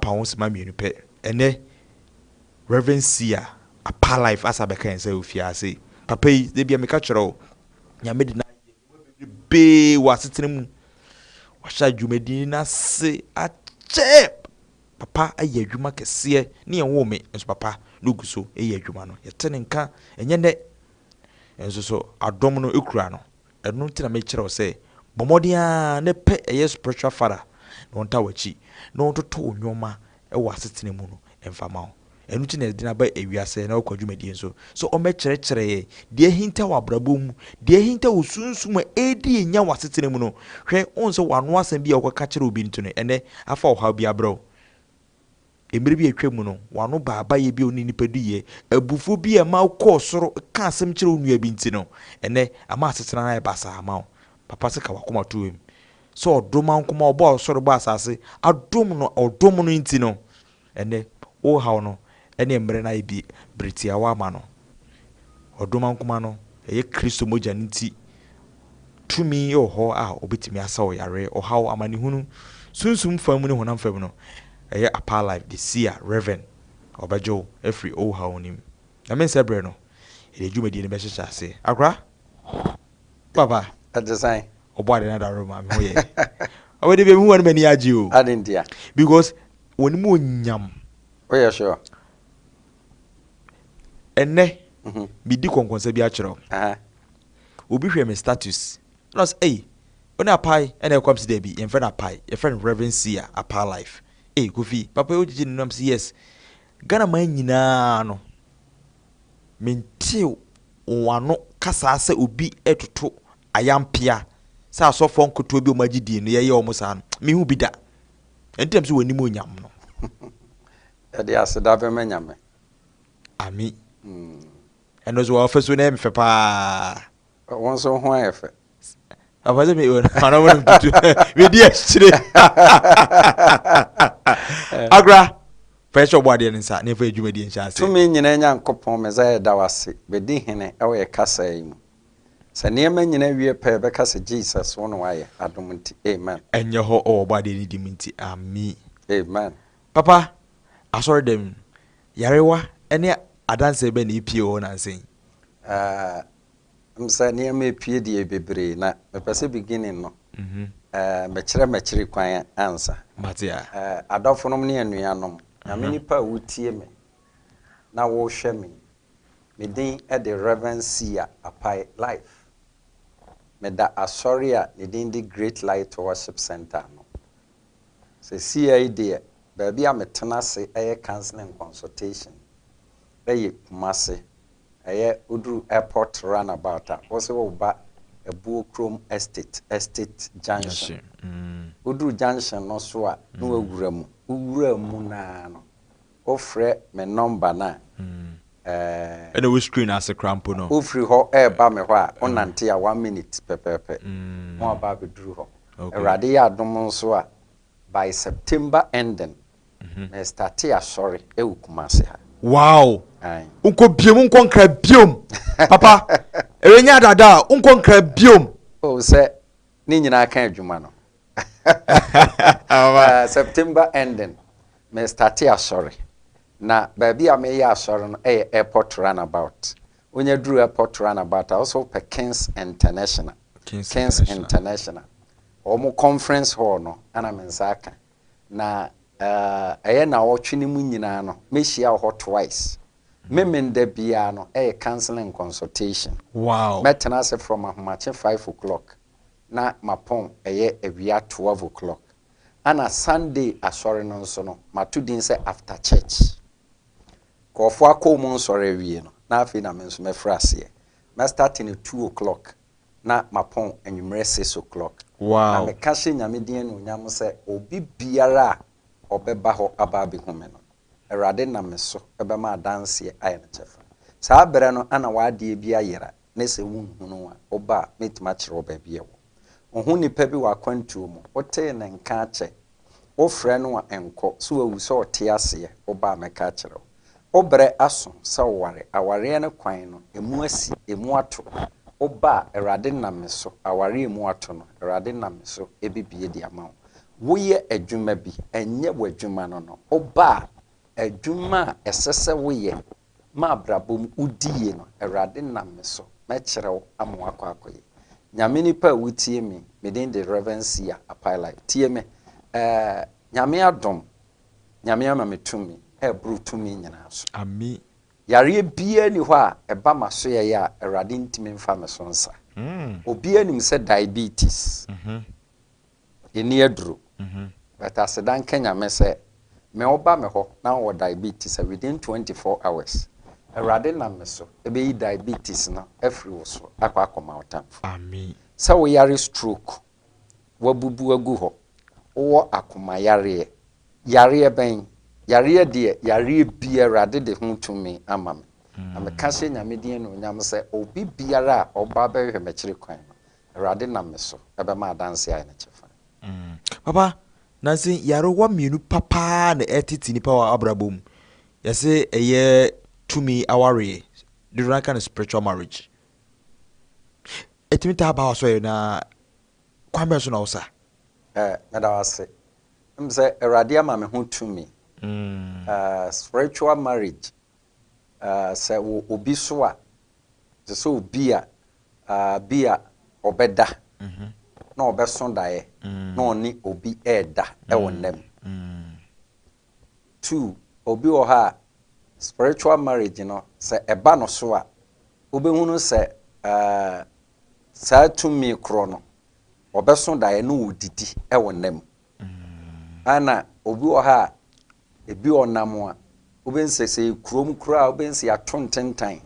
Paonsema mmienu pɛ. Ɛnnɛ, Rev. Sia Apa Life asan abɛka yɛn sɛ ofi ase. Papa yi, da biara meka kyerɛ wo, Nyame de no ayɛ nnwuma bebrebee wɔ asetena mu. Wahyɛ dwumadi no ase akyɛ. Papa ayɛ adwuma kɛseɛ. Ne yɛn woo me, nso papa na ogu so reyɛ adwuma no. Yɛte ne nka, ɛnyɛ nnɛ nso so adom no kura no. Ɛno nti na mekyerɛ wo sɛ, bɔ mmɔden ara na pɛ ɛyɛ spiritual father na ɔntaa w'akyi na ɔntoto wo nnoɔma wɔ asetena mu no mfa mma wo. Ɛno nti na yɛde no aba ewiase na ɔkɔ adwumadie nso sɛ ɔmmɛkyerɛkyerɛ yɛn deɛ ahinta wɔ abrabɔ mu, deɛ ahinta wɔ sunsum a ɛredi yɛn nya wɔ asetena mu no. Hwɛ, wohu sɛ w'ano asɛm bi a wokɔka kyerɛ obi nti no ɛnnɛ afa ɔhaw bi abrɛ wo? Mmere bi a atwam no, w'ano baa bayɛ bi a ɔne nnipa di yɛ. Abufuo bi a ɛma wokɔɔ soro kaa asɛm kyerɛɛ wo nua bi nti no, ɛnnɛ ama asetena no ayɛ basaa ama wo. Papa sɛ ka w'akomatomam sɛ ɔdom ankom a ɔbɔɔ soro bɔɔ asase adom no a ɔdom no nti no, ɛnnɛ worehaw no ne mmere no ayɛ bere tiawa ama no. Ɔdom ankoma no, ɛyɛ Kristo mogya no nti, tumi wɔ hɔ a obetumi asa ɔyare, ɔhaw, amanehunu, sunsum fam mu ne honam fam no. Ɛyɛ Apaa Life de Sia, Rev. Ɔbɛgye wo afiri owuhaw no mu. Nyame nsɛ bere no, yɛde dwumadi no bɛhyehyɛ ase. Akora, papa. Ɛte sɛn? Ɔbɔade no adaworo ma me ho yɛ. Ɔbɛ de bia mehu wɔn m'ani agye o. Adɛn ntia? Because wɔn mu onyam. Woyɛ sure? Ɛnnɛ, mhm. medi kɔnkɔnsa bi akyerɛ wo. Obi hwɛ me status na ɔsɛ ei wo ne apae ɛna ɛkɔ msi daabi yɛmfrɛ no apae yɛfrɛ no reverend sia apae life ei kofi papa wogyegye ne nam si yes ghana man nyinaa no mentew wano kasaa sɛ obi ɛtoto ayampea sɛ asɔfoɔ nkotoɔ bi ɔma gyedie no yɛyɛ ɔmo saa no mehu bi da ɛnti nam sɛ wɔnim onyam no Yɛde aseda bɛma Nyame. Ami. Ɛno so w'afasuo no yɛ me fɛ paa. Wo nso wo ho ayɛ fɛ. Ɔpɛ sɛ me ɔno mo no tutu me di akyire. Agora fɛ hyɛ ɔbɔ adeɛ no nsa na ɛfa adwuma die nhyɛ ase. Tumi nyina Nyankopɔn Messiah yɛda wo ase bɛdi hene wɔ yɛ kasaa yi mu. Sɛ nneɛma nyina wie pɛ yɛbɛka sɛ Jesus wo na wayɛ adom nti amen. Ɛnyɛ hɔ wɔ ɔbɔ adeɛ no di mu nti Ami. Amen. Papa, asɔrdan mu yarewa ne adanse bɛn na epiee hɔ nnansa yi? Ah, ɛm sɛ nneɛma epie deɛ bebree, na mepɛ sɛ beginning no eh, mɛkyerɛ m'akyiri kwan ansa. Mate a. Eh, adɔfonom ne anuanom, Nyame nipa a wotie me na wohwɛ me yi, me din de Rev. Sia Apai Life. Meda asɔre a ne din de Great Light Worship Centre ano. Seesei deɛ baabi a metena ase yɛ counselling consultation yɛ Kumasi, ɛyɛ woduru airport runabout a wose woreba Abuo Krom Estate, Estate Junction, woduru junction no so a na wawura mu, wowura mu no ara no, Wofrɛ me nɔmba no a, ɛɛ. Ɛna wo screen ase koraa mpo no. Wofiri hɔ reba me hɔ a, wonante a one minute pɛpɛɛpɛ na waba abɛduru hɔ. Awurade yɛ adom nso a, by September ending, merestate asɔre wɔ Kumasi ha. Wow! Nkɔ biom, nkɔ Nkra biom. Papa, ɛwɛ nyɛ adaadaa, nkɔ Nkra biom. Oh, sɛ ne nyinaa ka adwuma no. September ending me starte asɔre na baabi a meyɛ asɔre no yɛ airport runabout wonya duru airport runabout a wosɛ wopɛ kings international kings international wɔn conference hall no ana me nsa aka na ɛyɛ na ɔtwe no mu nyinaa no mehyia wɔ hɔ twice memen da biara no ɛyɛ counseling consultation wow mɛtena ase from ahomakye five o'clock na mapɔn ɛyɛ awia twelve o'clock ɛna Sunday asɔre no nso no mato din sɛ after church. Nkurɔfoɔ akɔ wɔn nsɔre awie no na afei na me nso mɛfiri aseɛ. Mɛ starte no two o'clock na mapɔn anwummerɛ six o'clock. Na Wow! meka hyɛ Nyame din anuonyam sɛ obi biara a ɔbɛba hɔ aba abɛhu me no, Awurade nam me so bɛma adanseɛ ayɛ ne kyɛfa. Saa berɛ no na w'adeɛ bi ayera. ne sɛ wonhunuu a, woba a, mɛtumi akyerɛ wo baabi a ɛwɔ. Wohu nipa bi wɔ akwantuo mu, wotee ne nka akyɛ, wofrɛ no a ɛnkɔ, sɛ wawu, sɛ ɔte aseɛ, woba a mɛka akyerɛ wo. Wo berɛ aso sɛ woware, awareɛ no kwan no, ɛmu asi, ɛmu ato, woba a, Awurade nam me so, awareɛ a ɛmu ato no, Awurade nam me so bɛbue de ama wo. Woyɛ adwuma bi, ɛnyɛ w'adwuma no no, woba a, adwuma a ɛsɛ sɛ woyɛ Ma abrabɔ mu wo di yie no awurade nam me so mɛkyerɛ wo ama wakɔ akɔ yie Nyame nipa a wo tie me me din de Rev Sia Apai Life tie me ɛɛ Nyame adom Nyame ama me tumi a ɛboro tumi nyinaa so. Amii. Yareɛ biaa ni hɔ a ɛba masoɛeɛ a awurade ntimi mfa me so nsa. Obiaa nim sɛ diabetes. Enni aduro. But aseda nka Nyame sɛ me wo ba me hɔ na wowɔ diabetes a within 24 hours Awurade nam me so bɛyi diabetes no afiri wo so akɔ akɔma wo tamfo. Sɛ wo yare stroke, wabubu agu hɔ, wowɔ akoma yareɛ, yareɛ bɛn? Yareɛ deɛ yareɛ biara Awurade de ho tumi ama me. Na meka hyɛ Nyame din anuonyam sɛ obi biara a ɔba bɛhwehwɛ me akyiri kwan no Awurade nam me so bɛma adanse ayɛ ne kyɛfa. Papa, nanse nyarewa mmienu pa paa na ɛretete nnipa wɔ abrabɔ mu. Yɛse ɛyɛ tumi awareɛ, dodoɔ no ara ka no spiritual marriage. Ɛtumi taa ba w'asɔre no ara, kwan bɛn so na wosa? Eh, meda wo ase. Wonim sɛ Awurade ama me ho tumi. Eh, spiritual marriage sɛ wɔ obi so a, te sɛ obi a bi a ɔbɛda na ɔbɛso daeɛ na ɔne obi reda wɔ nna mu. Two, obi wɔ hɔ a spiritual marriage no sɛ ɛba no so a, wobɛhunu sɛ saa tumi korɔ no ɔbɛso daeɛ na ɔdidi wɔ nna mu. Ana obi wɔ ha a, ebi ɔnam a, wobɛhu sɛ sɛ yɛ kurom koraa a, wobɛhu sɛ yɛato ntentan.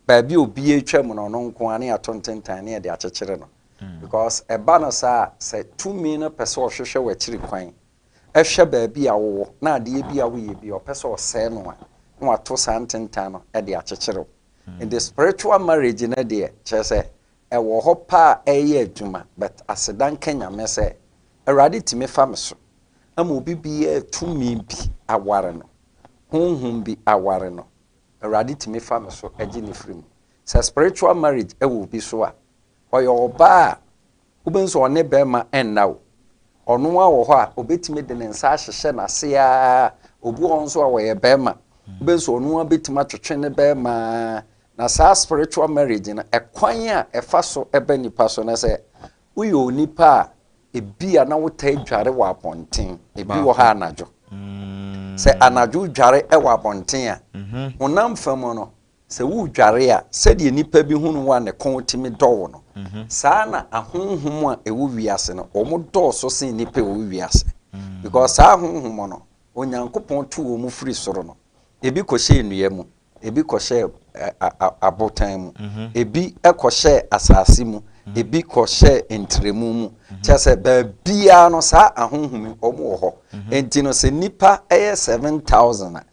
Baabi a obi atwam no, ɔno nko ara na yɛato ntentan na yɛde akyekyere no. Mm. Because ɛba no saa a, sɛ tumi no pɛ sɛ ɔhwehwɛ w'akyiri kwan, ɛhwɛ baabi a wowɔ na adeɛ bi a woyɛ bi a ɔpɛ sɛ ɔsɛe no a, na wato saa ntentan no de akyekyere wo. Mm. Nti spiritual marriage no deɛ, kyerɛ sɛ Ɛwɔ hɔ paa ɛyɛ adwuma but aseda nka Nyame sɛ Awurade tumi fa me so ama obi biaa tumi bi aware no, honhom bi aware no, Awurade tumi fa me so gye no firi mu. Sɛ spiritual marriage wɔ obi so a, ɔyɛ ɔbaa a wobɛhu sɛ ɔne bɛɛma nna o, ɔno ara wɔ hɔ a ɔbɛtumi de ne nsa ahyehyɛ n'ase ara, obi wɔ hɔ nso a ɔyɛ bɛɛma, wobɛhu sɛ ɔno ara bɛtumi atwetwe ne bɛɛma ara Na saa spiritual marriage no ɛkwan a ɛfa so ba nipa so no sɛ woyɛ onipa a ebi a na wotaa dware wɔ abɔnten ebi wɔ ha anadwo mm. sɛ anadwo dware wɔ abɔnten a mhm. honam fa mu no sɛ wodware a sɛdeɛ nipa bi hunu wo a ne kɔn tumi dɔwo no mhm. saa na ahonhom a ɛwɔ wiase no wɔn dɔɔso sen nipa ɛwɔ wiase mm. because saa ahonhom no onyankopɔn to wɔn firi soro no ebi kɔhyɛ nnua mu Ebi kɔhyɛɛ abotan mu, ebi kɔhyɛɛ asase mu, ebi kɔhyɛɛ ntrɛmu mu. Kyerɛ sɛ, baabiara no, saa ahonhom yi, wɔwɔ hɔ. Enti no, sɛ nnipa yɛ seven thousand a,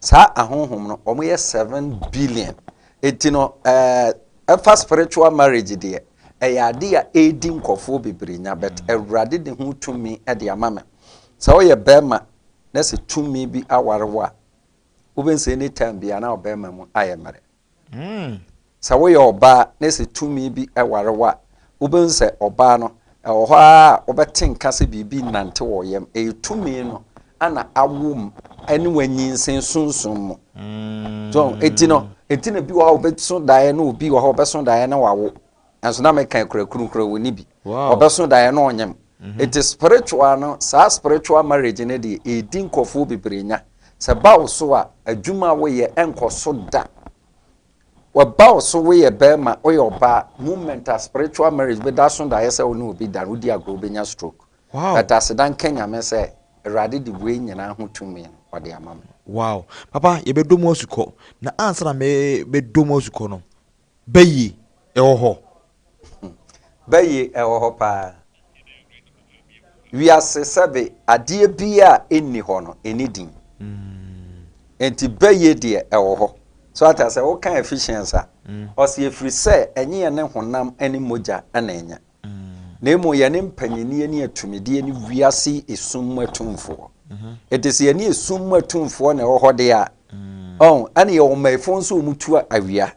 saa ahonhom no, wɔyɛ seven billion. Enti no, ɛfa spiritual marriage deɛ, ɛyɛ adeɛ a ɛredi nkurɔfoɔ bebree nya, but Awurade de ho tumi de ama me. Sɛ woyɛ barima na sɛ tumi bi aware wo a, wobɛhu sɛ any time bia na ɔbɛrima mu ayɛ mmerɛ hmm. sɛ woyɛ ɔbaa na sɛ tumi bi ware wo a wobɛhu sɛ ɔbaa no ɛwɔ hɔ a wobɛte nka sɛ biribi nante wɔ yam ɛyɛ tumi no ana awom ɛne wanyinsen sunsun mu hmm. so ɛti no ɛti na bi wɔ hɔ a wobɛso daeɛ na obi wɔ hɔ wobɛso daeɛ na wawo Nanso na meka akurakuru koraa ɔnni bi. Ɔbɛso daeɛ na ɔnyem. Nti spiritual no, saa spiritual marriage no deɛ ɛredi nkurɔfoɔ bebree nya. Sɛ ɛba wo so a, adwuma a woyɛ ɛnkɔ so da. Ɛba wo so woyɛ barima, woyɛ ɔbaa, moment a spiritual marriage bi da so daeɛ sɛ wo ne obi da no, wodi agorɔ wobɛnya stroke. But aseda nka Nyame sɛ Awurade de wei nyinaa ho tumi no, ɔde ama me. Wow. Papa, yɛbɛdɔ mu asukɔ. Na ansa na mebɛdɔ mu asukɔ no, Baye, ɛwɔ hɔ. Baye, ɛwɔ hɔ paa. Wiase sɛbe adeɛ biara a ɛnni hɔ no, ɛnni din. Enti baye deɛ ɛwɔ hɔ. So ate aseɛ? Woka efficiency a, ɔse ɛfiri sɛ ɛnyɛ yɛne honam ne mogya na ɛnyɛ. na mmom yɛne mpanyinie ne atumideɛ ne wiase yi esum mu atumfoɔ. Enti sɛ yɛne esum mu atumfoɔ na ɛwɔ hɔ deɛ a, ɔn, ɛne yɛwɔ mmaefoɔ nso wɔn tu awia.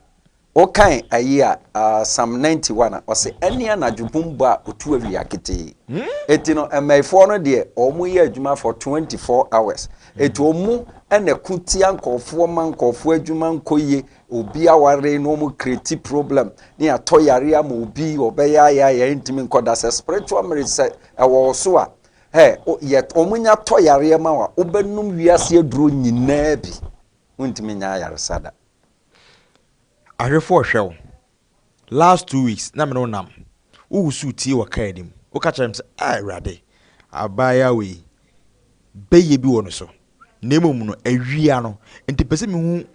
Wokan ayi a, uh, Psalm 91 a, ɔse ɛne anadwo bum bɔ a ɔtu awia ketee. Enti no, mmaefoɔ no deɛ, wɔn yɛ adwuma for 24 hours. Enti wɔn na ɛko tia nkurɔfoɔ ma nkurɔfoɔ adwuma nkɔ yie, Obi aware na wɔn create problem na yɛatɔ yare ama obi ɔbɛyɛ ayɛ ayɛ ɛntumi nkɔ da sɛ spiritual marriage sɛ ɛwɔ wo so a ɛ yɛ wɔn nya tɔ yareɛ ma wa wobɛnum wiase aduro nyinaa bi wontumi nya ayaresa da. Ahwefo ɔhwɛ wo Last two weeks na me ne wo nam, wo wusuu tie wɔ car anim, wo ka kyerɛɛ me sɛ, ah Awurade, abaayewa wei, bɛyɛ bi wɔ no so, na mmom no awia no, nti mepɛ sɛ mehu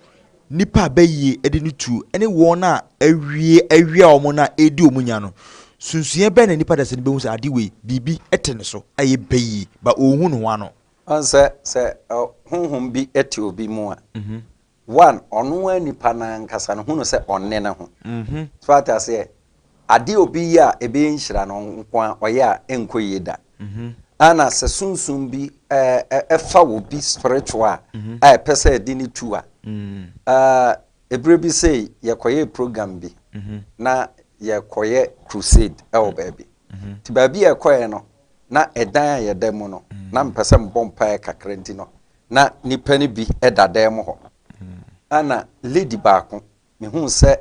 nipa a bɛyɛ de no tuo ne wɔn a awie awia wɔn no a ɛredi wɔn nya no, sunsuiɛ bɛn na nipa dasani no bɛhu sɛ ade wei, biribi te ne so a ɛyɛ bɛyie, but ɔnhu ne ho ano. Woahu sɛ, sɛ honhom bi te obi mu a, One, ɔno ara nipa no ankasa no hu no sɛ ɔnne ne ho. So ate aseɛ? Adeɛ a obi yɛ a ɛbɛyɛ nhyira no nko ara ɔyɛ a ɛnkɔ yie da. Ɛna sɛ sunsum bi fa obi spiritual a, a ɛpɛ sɛ ɛde no tu a, ɛberɛ bi sei yɛkɔyɛɛ program bi na yɛkɔyɛ crusade wɔ baabi. Nti baabi a yɛkɔeɛ no, na ɛdan a yɛda mu no, na mepɛ sɛ mebɔ mpaeɛ kakra nti no, Ná nnipa no bi da dan mu hɔ, a na lady baako, mihuu sɛ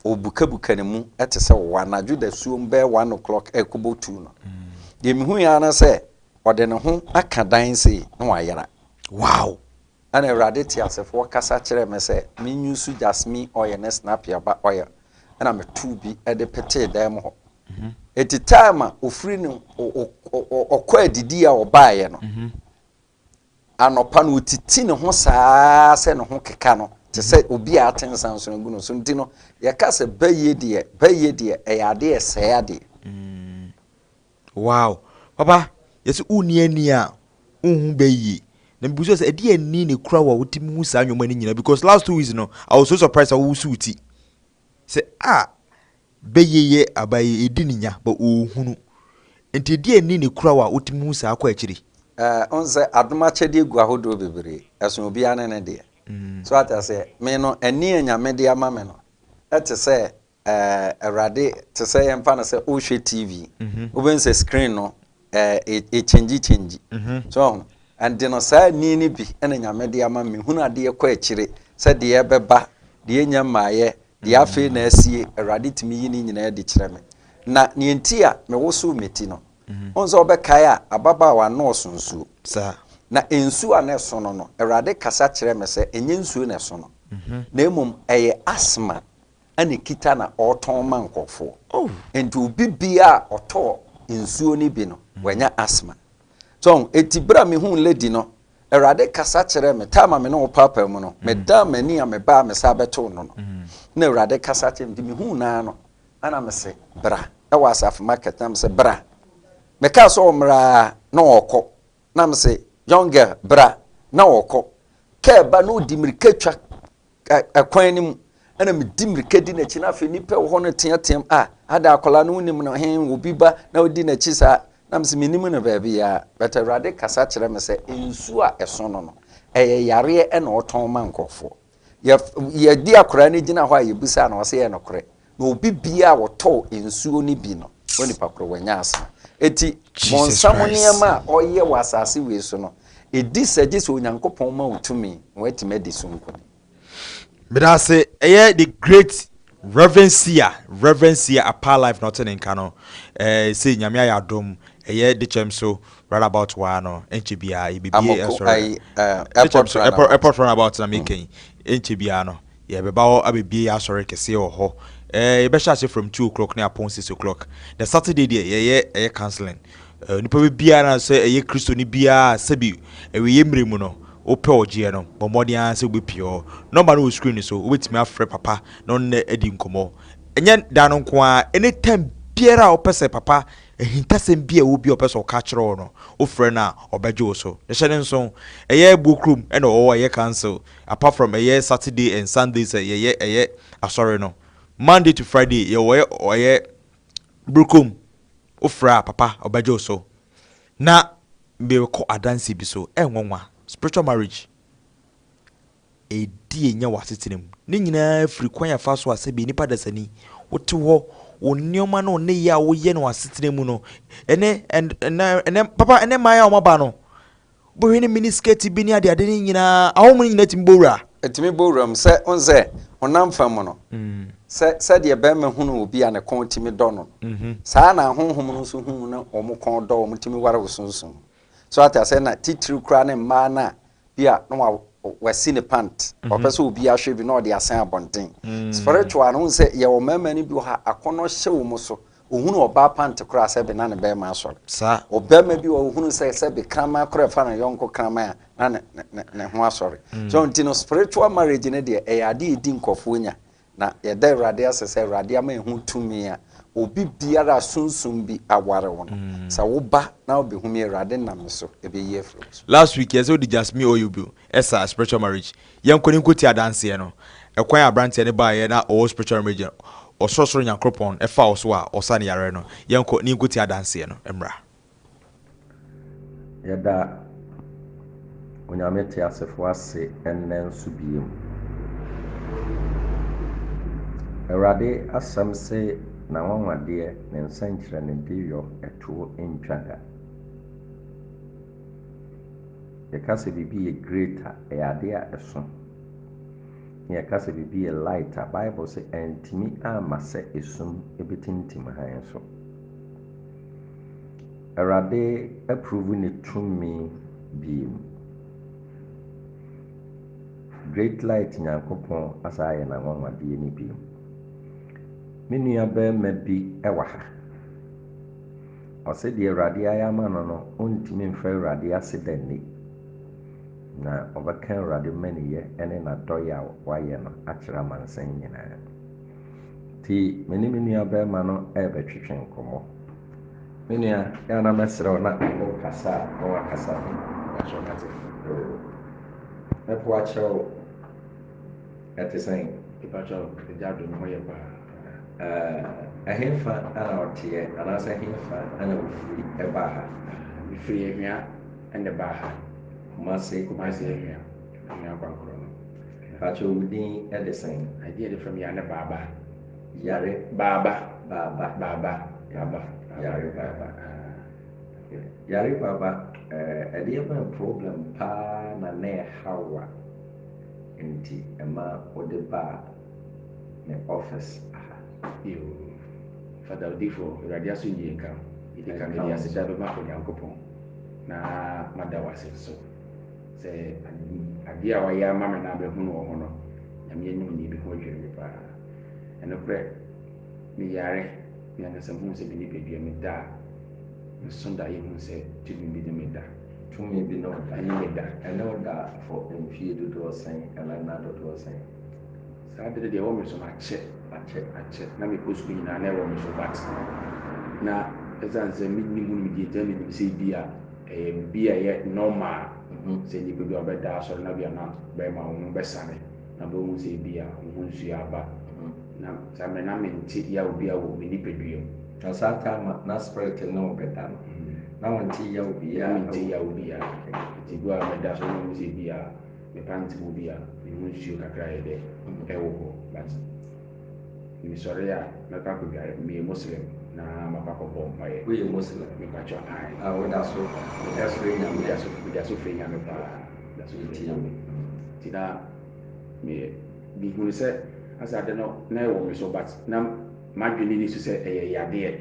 ɔrebukabuka ne mu te sɛ wɔ anadwo dasuom bɛyɛ one o'clock ɛrekɔbɔ two no. Deɛ mihui ara ne sɛ ɔde ne ho aka dan sei na wayera. Wow! Ɛna Awurade teasefoɔ kasa kyerɛɛ me sɛ menwusu jasmine oil ne snappy aba oil ɛna metoo bi de petee dan mu hɔ eti time a ofiri no ɔkɔ adidi a ɔbaeɛ no mhm. anɔpa no otiti ne ho saa sɛ ne ho keka no te sɛ mhm. obi a ate nsa nso agu no so nti no yɛka sɛ bɛyie deɛ bɛyie deɛ ɛyɛ adeɛ ɛsɛe adeɛ mm. Wow papa yɛse wonni ani a wonhu bɛ yie na mebusua sɛ ɛde ani na ekura wo a wotumi hu saa nneɛma no nyinaa because last two weeks no I was so surprised sɛ wosuw ti sɛ a bɛ yie yɛ aba yi edi ne nya but ohunu nti ɛde ani na ekura wo a wotumi hu saa kɔ akyiri. Eh, wohu sɛ adom akyɛdeɛ gu ahodoɔ bebree, ɛso obiara ne ne deɛ. So ate aseɛ? Me no, ani a Nyame de ama me no, ɛte sɛ Awurade te sɛ yɛmfa no sɛ wohwɛ TV, mhm. wobɛhu sɛ screen no ɛkyɛngyi kyɛngyi mhm. so ɔho ɛnde no saa ni no bi ɛna nyame de ama me hunu adeɛ kɔ akyire sɛ deɛ ɛbɛba deɛ ɛnya mmaeɛ deɛ mhm. afei na asie Awurade tumi yi ne nyinaa de kyerɛ me na neɛ nti a mewoso me ti no ɔhu sɛ wobɛkae a ababaawa nɔɔso nsuo na nsuo a na ɛso no no Awurade kasa kyerɛ me sɛ ɛnyɛ nsuo na ɛso no na mmom ɛyɛ asma ɛna ɛkita na ɔretɔn ma nkurɔfoɔ. Nti obi biara a ɔtɔɔ nsuo no bi no, wanya asthma. So ahu? Enti berɛ a mehuu lady no, Awurade kasa kyerɛɛ me, time a me ne wo paapaa mu no, medan m'ani a mebaa a mesan bɛtoo no no, na Awurade kasa kyerɛɛ me, nti mehuu no ara no, ɛna mese, Bra. Ɛwɔ Asafo Market, na mese, Bra. Mekaa sɛ ɔmmra ara, na ɔrekɔ. Na mese, Young girl, bra. Na ɔrekɔ. Kaa ba na ɔdi mmirika twa Ɛkwan no mu, ɛna medi mmirika di n'akyi na afei nnipa wɔ hɔ no teateam a ada akwadaa no wonim no he obi ba na odi n'akyi saa na mese menim no baabiaa but awurade kasa kyerɛ me sɛ nsuo a ɛso no no ɛyɛ yareɛ ɛna ɔtɔn ma nkurɔfoɔ yɛdi akwadaa no gyina hɔ a yɛbusaa no ɔsɛ yɛ nokorɛ Na obi biara a ɔtɔɔ nsuo no bi no, onipa korɔ wanya asena. Eti, bɔnsam nneɛma a ɔyɛ wɔ asase wei so no, ɛdi sɛ gye sɛ Onyankopɔn ma wo tumi ma woatumi adi so nkonim. Meda ase. Ɛyɛ the great Reverend Sia, Reverend Sia Apaa Live na ɔte ne nka no. Ɛɛ sei Nyame ayɛ adom, ɛyɛ Dekyɛm so right about waa no, ɛnkyɛ biara yɛbɛbie Amoko, ɛsɔre. ayi, eh, Dekyɛm airport so, airport, runabout. airport runabout na meka yi, ɛnkyɛ biara no. Yɛbɛba hɔ abɛbue yɛ asɔre kɛseɛ wɔ hɔ eh, yɛbɛhyɛ aseɛ from two o'clock ne apɔn six o'clock, na Saturday deɛ yɛyɛ ɛyɛ counseling eh, onipa bɛ biara na sɛ ɛyɛ Kristoni biara a sɛbi awieɛ mmerɛ mu no wopɛ ɔgyeɛ no, bɔ mmɔden ara sɛ wobɛpie hɔ. Nɔmba no wɔ screen no so, wobɛtumi afrɛ Papa na ɔne no adi nkɔmmɔ. Ɛnyɛ da no nko ara, any time biara a wopɛ sɛ Papa ahintasɛm bi a ɛwɔ bi a ɔpɛ sɛ ɔka akyerɛ wo no, wofrɛ no a ɔbɛgye wo so. Na hyɛ no nso, ɛyɛ Boɔ kurom na ɔwɔ, ɛyɛ council apart from ɛyɛ Saturday and Sunday sɛ yɛyɛ ɛyɛ asɔre no, Monday to Friday yɛwɔ yɛ ɔyɛ Brkom wo frɛ a papa ɔbɛgye wo so na mekɔ adanse bi so ɛnwanwa spiritual marriage ɛdi ɛnya wɔ asetena mu ne nyinaa firi kwan afa so a sɛbi nipa dasani wote hɔ wo nneɛma no ne yɛ a woyɛ no asetena mu no ɛne ɛnɛ papa ɛnɛ mmaa a wɔaba no Wobɛhwɛ ne mini skirt bi ne adeade no nyinaa, ahɔho mu no nyinaa tumi bɔ wura. Ɛtumi bɔ wura mu sɛ, wohu sɛ, honam fam mu no, sɛ sɛdeɛ barima hunu obi a ne kɔn tumi dɔ no no, saa ara na ahonhom no nso hunu na wɔn kɔn dɔ, wɔtumi ware wo sunsum mu. So ate aseɛ? Na titiriw koraa ne mmaa no a bi a na wasi ne pant, ɔpɛ sɛ obi ahwɛ bi na ɔde asɛn abɔnten. Spiritual no, wohu sɛ yɛwɔ mmarima no bi wɔ ha, akɔnnɔ hyɛ wɔn so, Ohunuu ɔbaa pa nte koraa sɛ bi na ne bɛɛma asɔre. Saa. Ɔbɛɛma bi wɔ hɔ ohunuu sɛ sɛ bi kraman koraa fa ne yɔnko kraman a na ne ne ne ne ho asɔre. So nti no spiritual marriage no deɛ ɛyɛ adeɛ a ɛdi nkorɔfoɔ nya. Na yɛda Awurade ase sɛ Awurade ama yɛhu tumi a obi biara a sunsum bi aware wo no sɛ wo ba na wo bɛhunu yi Awurade nam me so ɛbɛyi afiri wo so. Last week yɛsɛ wode jasmine oil bio ɛsa spiritual marriage Yɛn kɔ ne nkotie adanseɛ no. Ɛkwan a abranteɛ no baeɛ na ɔwɔ spiritual remedial ɔsorosoro Nyankoropɔn faa wo so a ɔsaa ne yareɛ no. Yɛn kɔ ne nkotie adanseɛ no mmra. Yɛda Onyame teasefoɔ ase ɛnnɛ nso bio. Awurade asɛm se N'anwanwadeɛ, Ne nsɛnkyerɛnnedeɛ yɔ ɛtoɔ ntwa da. Yɛka sɛ biribi yɛ great a, ɛyɛ ade a ɛso. Na yɛka sɛ biribi yɛ light a, Bible sɛ antumi amma sɛ esum betintim hann so. Awurade aprovu ne tumi bio. Great light Nyankopɔn asan ayɛ n'anwanwadeɛ no bio. Me nua barima bi wɔ ha. Ɔse deɛ Awurade ayɛ ama no no ɔntumi mfa Awurade ase da nni, na ɔbɛka Awurade mmaniyɛ ne n'adɔeɛ a wayɛ no akyerɛ amansan nyinaa. Nti me ne me nua barima no rebɛtwetwe nkɔmmɔ. Me nua, yɛ a na mɛsrɛ wo na wokasa a na wakasa ho akyerɛ me ate. Oo, mɛpo akyerɛ wo. Ɛte sɛn? Mepa kyɛw, agya adom, hɔ yɛ paa. Ɛɛ, ɛhefa na ɔteɛ, anaasɛ ɛhefa na ɔfiri baa ha? Mefiri Ahwia na ɛbaa ha. Kumase? Kumase Ahwia, Ahwia Akwankorɔ no. Mpakyɛw, wo din de sɛn? Agye yɛde frɛ me Yare Baaba. Yare? Baaba. Baaba. Baaba. Baaba. Yare Baaba. Yare Baaba, ɛdeɛ bɛn problem paa na na ɛhaw wo a nti ɛma wode baa? me office aha. Yoo Fada Odifo, Awurade asomdwie nka wo. Mede ka mede aseda bɛma Onyankopɔn na mada wo ase nso sɛ adeɛ a wayɛ ama me no a mɛhunu wɔ ho no, Nyame anim nie bi ho adwiri me paa. Ɛnokorɛ meyare, me ankasa mehunu sɛ me nipadua me da a nso da yɛhunu sɛ tumi bi ne me da. Tumi bi ne wo da. Ɛne me da. Ɛne wo da for mfie dodoɔ sɛn ɛna nna dodoɔ sɛn? Saa ade no deɛ ɛwɔ me so makyɛ akyɛ akyɛ na mekɔ sukuu nyinaa na ɛwɔ me so but na ɛsiane sɛ menni mu nimdeɛ nti na menim sɛ bi a ɛyɛ biribi a ɛyɛ normal mhm. sɛ nnipa bi a wɔbɛda asɔre na bi a na bɛrima wɔn ho bɛsane na bɛhu sɛ bi a wɔn ho nsuo aba mhm. na saa mmerɛ na mente yaw bi a wɔ me nipadua mu. Na saa taa ma na spirit ne wo bɛda no mhm. na wɔnte yaw biara. Na mente yaw biara nti bi a mɛda asɔre na wɔhu sɛ bi a Me pant mu bi a me ho nsuo kakra yɛ dɛ ɛwɔ hɔ but me sɔre a mɛkɔ akɔdware meyɛ Muslim na makɔ akɔbɔ mpaeɛ. Woyɛ Muslim? Me pakyɔ ae. A woda so ɛfrɛ Nyame? Me da so me da so frɛ Nyame paa me da so frɛ Nyame nti na me me hunu sɛ asɛ ade no na ɛwɔ me so but na m'adwene nni so sɛ ɛyɛ yadeɛ.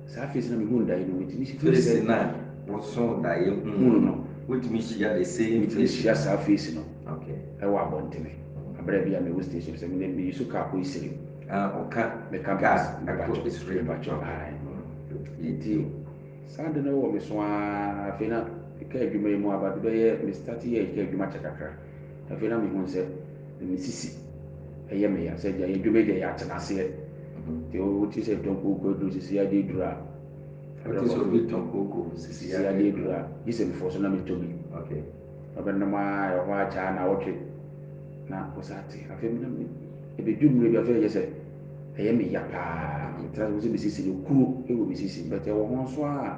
Saa afei sɛ na mehunu daeɛ no, metumi si firi sɛ. Face no a woso daeɛ hunu no, wotumi hyia the same face? Metumi hyia saa face no wɔ abɔntene. Aberɛ bi a mewɔ station sɛ mene meyi so car kɔ Isiri. Ah, ɔka meka car ɛkɔ Isiri. Mepakyɛ ae. Nti saa ade no wɔ me so ara. Afei na car adwuma yi mu aba de bɛyɛ, me start yɛɛ car adwuma kyɛ kakra. Afei na mehunu sɛ na me sisi yɛ me ya sɛ gya yɛ dwuma gya yɛ atena aseɛ nti o ti sɛ tɔn kooko aduro sisi adeɛ duro a ɔte sɛ obi tɔn kooko sisi adeɛ duro a gye sɛ mefɔ so na metɔ bi ɔbɛnom a ɛhɔ agyaa na ɔtwe na ɔsa te afei na me ɛbɛdu mmerɛ bi afei ɛyɛ sɛ ɛyɛ me ya paa metra sɛ mesisi no kuro ɛwɔ mesisi bɛtɛ wɔ ho nso a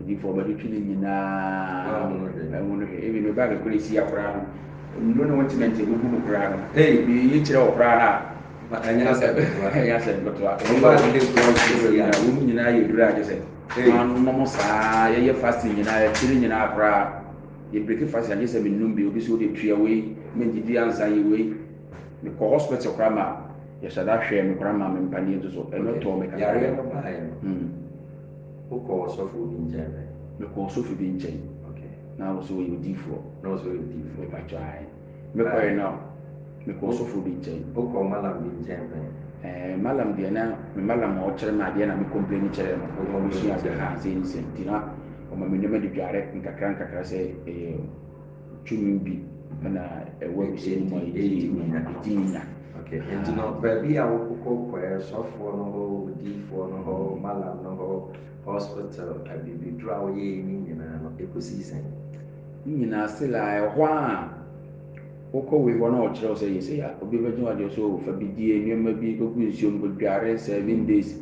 onipa ɔbɛtwetwe ne nyinaa mu ɛmu no hwɛ ebi no ba bɛkɔ esi akora no nnuro ne wɔte mɛnti ebubu mu koraa no hey bi yi kyerɛ wɔ koraa na ma ɛnyɛ asɛ ɛnyɛ asɛ bɛtɔ a wɔn ba ne kura wɔn nyinaa wɔn nyinaa yɛ duro a kyesɛ wɔn nom saa yɛyɛ fast nyinaa yɛkyerɛ nyinaa koraa yɛ break fast anyɛ sɛ menum bi obi so de tua wei mendidi ansa yi wei mekɔ hospital koraa ma yɛhyɛ da hwɛ me koraa ma me mpaneɛ nso so ɛno tɔɔ me kakra. Wokɔɔ ɔsɔfo bi nkyɛn pɛn? Mekɔɔ ɔsɔfo bi nkyɛn. Okay. Na ɔsɛ ɔyɛ odiifoɔ. Na ɔsɛ ɔyɛ odiifoɔ. Mepakyɛ ae. Mekɔɛ na mekɔɔ ɔsɔfo bi nkyɛn. Wokɔɔ malam bi nkyɛn pɛn? Ɛɛ malam deɛ na me malam a ɔkyerɛ me adeɛ na me complaini kyerɛɛ no. Wo complaini kyerɛɛ no. Ɔbɛsua adeɛ haa sei ne sei nti na ɔma me nneɛma de dware nkakra nkakra sɛ ɛyɛ. tumi bi na ɛwɔ abusua no mu a yɛbɛyɛ tumi nya, yɛtumi nya. Okay. Nti no, baabi a wokɔkɔ kɔɛ sɔfoɔ no hɔ, odiifoɔ no hɔ, malam no hɔ, hospital, abibiduro a woyɛɛ ne nyinaa no, ɛkɔsii sɛn? Ne nyinaa se la ɛhɔ a wokɔ wei hɔ na ɔkyerɛ wo sɛ yɛ sɛ obi bɛgye wadeɛ so fa bi die nneɛma bi kɔgu nsuom kɔdware seven days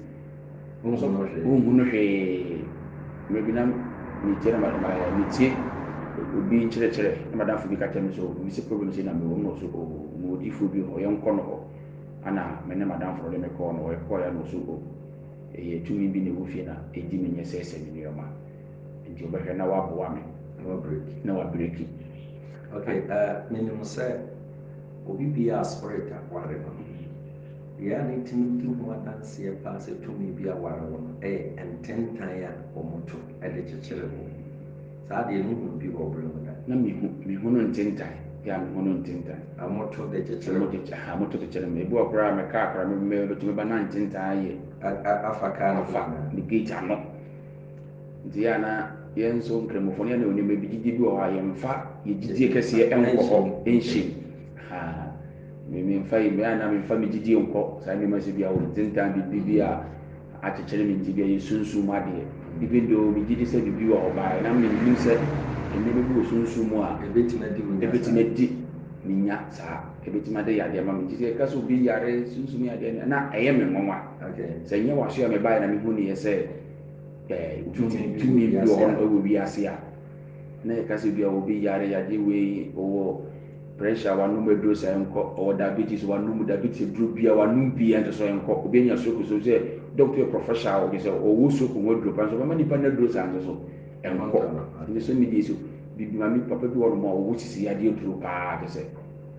Wɔn nso wɔnhu no hwee. Mmerɛ bi na metie na metie obi nkyerɛkyerɛ na madamfo bi ka kyerɛ me sɛ obi sɛ problem sei na mewɔ mu na ɔso o mu odifoɔ bi hɔ yɛnkɔ no hɔ ana me ne madamfo no de me kɔɔ no hɔ yɛkɔɔ ya na ɔso o ɛyɛ tumi bi na ɛwɔ fie na ɛdi me nyɛ sɛ sɛ me nneɛma nti ɔbɛhwɛ na waboa me na wabreki okay uh, menim sɛ obi biaa spirit akware no Deɛ a metumi di ho adanseɛ paa sɛ tumi bi aware wo no yɛ ntentan a wɔto de kyekyere wo. Saa deɛ mehunu bi wɔ berɛ mu da. Na mehu, mehunu ntentan. Yeah, mehunu ntentan. A wɔto de kyekyere wo. Wɔde, aha, wɔto de kyekyere me. Ebi wɔ koraa a me kaa koraa, me, me, metumi ba na ntentan ayɛ. A, a, afa kaa no. Afa ne gate ano. Nti yɛ a na yɛn nso nkramofoɔ no yɛ na onimɛ bi gyidie bi wɔ hɔ a yɛmfa yɛ gyidie kɛseɛ nkɔ hɔ nhyem. Haa. Me memfa yi mmerɛ anaa memfa me gyidie nkɔ saa nneɛma sɛ bi a wɔn ntentan biribi bi a akyekyere me nti bi a yɛsunsum mu adeɛ even though megye di sɛ biribi wɔ hɔ baeɛ na menim sɛ nneɛma bi wɔ sunsum mu a ɛbɛtumi adi me nya ɛbɛtumi adi me nya saa ɛbɛtumi ade yadeɛ ma me nti sɛ ɛka sɛ obi yare sunsum yadeɛ na ɛyɛ me nwanwa sɛ nyɛ waso a mebaeɛ na mehu neɛ sɛ tumi bi wɔ hɔ ɛwɔ wiase a na ɛka sɛ bi a obi yare yadeɛ wei ɔwɔ Pressure a wanom aduro sɛ ɛnkɔ, ɔwɔ diabetes wanom diabetes aduro bia wanom bi ɛnte so ɛnkɔ, obi anya stroke nso sɛ doctor yɛ professional ɔde sɛ ɔwɔ stroke ho aduro pa nso ɔbɛma nipa no aduro saa nso so ɛnkɔ. Ɛnti sɛ media so bibi maame papa bi wɔ nom a ɔwɔ sisi yadeɛ aduro paa te sɛ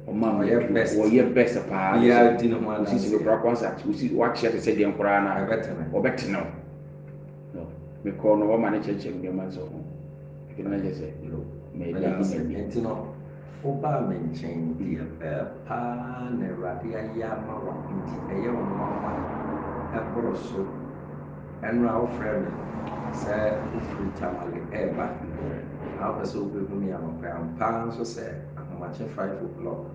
ɔma me aduro ɔyɛ best paa te sɛ ɔsisi no koraa kwansa ɔsi wakyeɛ te sɛ deɛ nkoraa na ɔbɛtene wo. No, mekɔɔ no hɔ ma no kyerɛkyerɛ me nneɛma nso ho. Afei na kyerɛ sɛ, no, meda ase. Nti no, wobaa me nkyɛn, deɛ ɛɛ paa na Awurade ayɛ ama wo, nti ɛyɛ wo nwanwa ɛboro so. Ɛno a wofrɛ me sɛ wofiri Tamale ɛɛba, na wopɛ sɛ wobɛhu me anɔpa yi, ampa ara nso sɛ ahomakye five o'clock.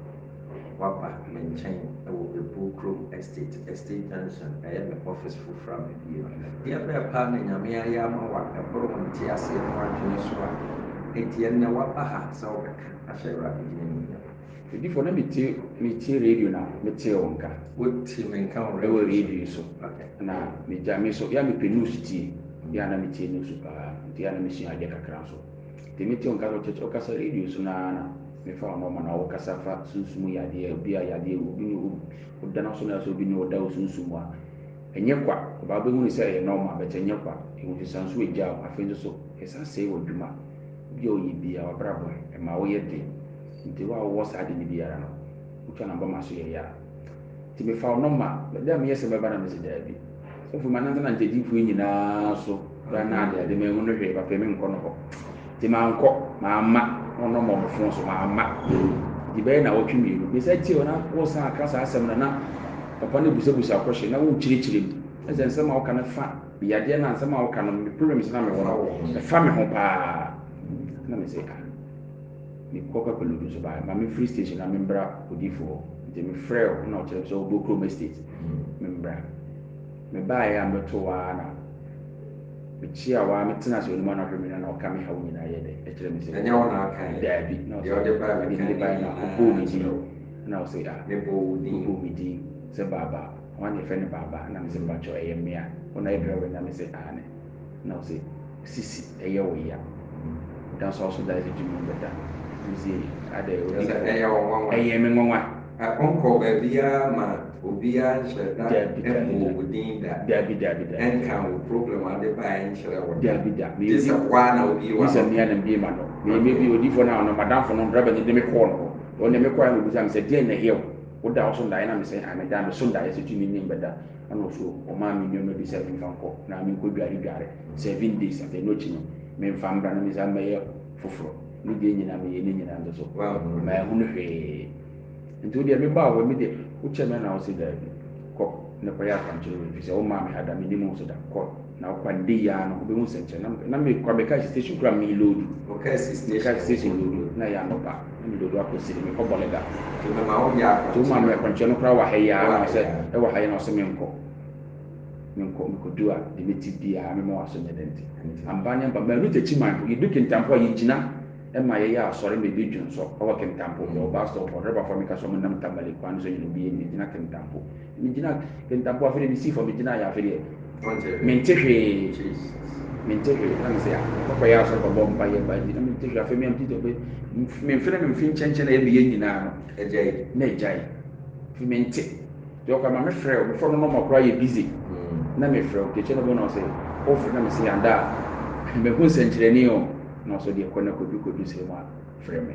Waba me nkyɛn wɔ Abuo kurom estate, estate junction, ɛyɛ me office foforɔ a mabue no. Ɛdeɛ bɛɛ paa na Nyame ayɛ ama wo a ɛboro wo nteaseɛ ne w'adwene so a enti ɛnnɛ waba ha sɛ wobɛka ahyɛ Awurade din animuonyam? Odiyifoɔ, na mete, metie radio na metee wo nka. Wote me nka wɔ radio so? Ɛwɔ radio so. Okay. Na megya, me nso, yɛ a mepɛ news tie, yɛ a na metie news paa, nti yɛ a na mesua adeɛ kakra nso. Deɛ mete wo nka no church ɔkasa radio so no ara na me fa wo nɔma na wo kasa fa sunsum yadeɛ obi a yadeɛ wɔ obi ne wo da no so na ɛsɛ obi ne wo da wo sunsum mu a ɛnyɛ kwa ɔbaa bɛhu ne sɛ ɛyɛ nɔma bɛtɛ ɛnyɛ kwa ɛhu sɛ san so agya wo afei nso so ɛsa sɛe wɔ adwuma obi a ɔyɛ bia wabrabɔ ɛma woyɛ den nti wo a wowɔ saa de no biara no wotwa namba ma so yɛ yɛ a Nti mefa wo nɔma bɛde a meyɛ sɛ mɛba na mese daabi. Sɛ fo manante na nkyɛdifoɔ nyinaa so bɛa na ade ade mɛhu no hwee papa me nkɔ no hɔ. Nti mankɔ mamma na ɔnɔma ɔmo fon so mamma. Nti bɛyɛ na wɔtwe mmienu mesa tie hɔ na wɔsan aka saa asɛm no na papa no busabusa kɔhye na wɔkyerɛkyerɛ mu. Ɛsɛ nsɛm a woka no fa me yadeɛ na nsɛm a woka no me problems na mewɔ no ɛfa me ho paa na mese ah. Mekɔ Kwapaludu nso bae. Ma memfiri station na membra odiyifo hɔ. Enti mefrɛɛ wɔn na wɔkyerɛɛ me sɛ ɔwɔ Bokrom Estate, membra. Mebaeɛ a mebɛtoo hɔ ara na mekyeaa hɔ ara metenaa ase anim anɔhwɛ mmienu a na ɔka me haw nyinaa yɛ dɛ kyerɛ me sɛ. Ɛnyɛ wo na ɔkae yɛ? Daabi, na ɔse mede mede bae na ɔbɔɔ me din na ɔse ah mebɔɔ me din sɛ Baaba, wɔn na yɛfrɛ no Baaba na mese mpakyɛw ɛyɛ me a, wo na yɛfrɛ wo ɛnnɛ a mese aane. Na ɔse sisi ɛyɛ wo ya da so aso da dze dwuma mu bɛda medze adɛ wo dze kɔ ɛyɛ me nwanwa. Ɔnkɔ baabiara ma obiara nhyɛ da mmɔ wo din da ɛnka wo problem a ɔde baeɛ nkyerɛ wo da gye sɛ wo ara na wobie w'ano. Gye sɛ me ara na mebie m'ano. Meyɛ mebie odiyifoɔ no ano m'adamfo no driver no de me kɔɔ no hɔ ɔno deɛ mekɔeɛ na ɔbisaa me sɛ deɛn na ɛyɛ wo woda wo so ndaeɛ na mese ae meda me so ndaeɛ sɛ tumi nnim bɛda. Ɛna ɔso ɔmaa me nneɛma bi sɛ memfa nkɔ na menkɔ dware dware seven days afei ɛno akyi no memfa mbra na mensan mmɛyɛ foforɔ. Ne deɛ nyinaa meyɛ ne nyinaa nsoso manhunu hwee. Nti wo deɛ mebaa hɔ yi me deɛ wokyɛɛ me ɛna wose daabi kɔ na kɔyɛ akwankyerɛ wei fisɛ womaa me ha da mennim wo so da kɔ. Na ɔkwa no dei aa no ɔbɛhu sɛnkyerɛ na na me kwa me car station kura me loodu me car station loodu na ɛyɛ anɔpa na me loodu akɔ siri me kɔ bɔleda nti wo maa me akwankyerɛ no kura wɔ ha yi aa na ɔsɛ ɛwɔ ha yi na ɔsɛ me nkɔ me nkɔ me kɔ du a de me ti di aa me ma waso nyɛ dɛ nti amba nyɛ amba maanu takyi man po yɛ du kentampo a yɛ gyina ɛma yɛ yɛ asɔre ma ebi dwonsɔ ɛwɔ kentampo yɛ wɔ bus stop hɔ driver fo a me ka so ɔmo nam tamale kwan no so nyina obi yɛ nyina gyina kentampo Megyina kentapo afei de mesii fam megyinaeɛ afei deɛ mente hwee mente hwee na mesɛ kɔkɔyɛ ah, asɔre kɔbɔ mpa yɛ ba nti na mente hwee afei meamte tɔpɛ memfene memfe nkyɛnkyɛn na yɛmeyɛ nyinaa no agyae na agyae fi mente deɛ ɔkɔ ma mefrɛ o mefrɛ no nɔma koraa yɛ busy hmm. na mefrɛ o kekyɛ no bɔ na ɔsɛ wofrɛ na mesɛ yɛanda a mehu nsɛnkyerɛni o na ɔsɛ deɛ kɔ na kɔdu kɔdu sɛ mu a frɛ me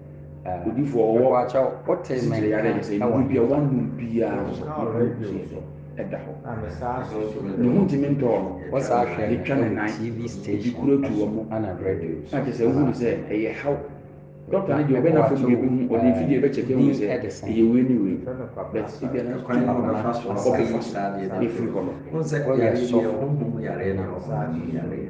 Odiyifoɔ ɔwɔ esikyire yareɛ a kyerɛ sɛ nnuro bi a wɔnnom biara nso ne ho nsuo so da hɔ. Ne ho ntumi ntɔɔ no. Yɛtwa no nan, ebi kura atu wɔ mu. Na kyerɛ sɛ wohu no sɛ ɛyɛ haw. Dɔkta no deɛ ɔbɛ n'afam deɛ ɛbɛhu, ɔde mfidie bɛkyɛke ahu sɛ ɛyɛ wei ne wei. But ebia nanso kwan a ɔbɛfa so a ɔbɛfa so afiri hɔ no. Wohu sɛ yare deɛ wɔnnom yareɛ na wɔnnom yareɛ.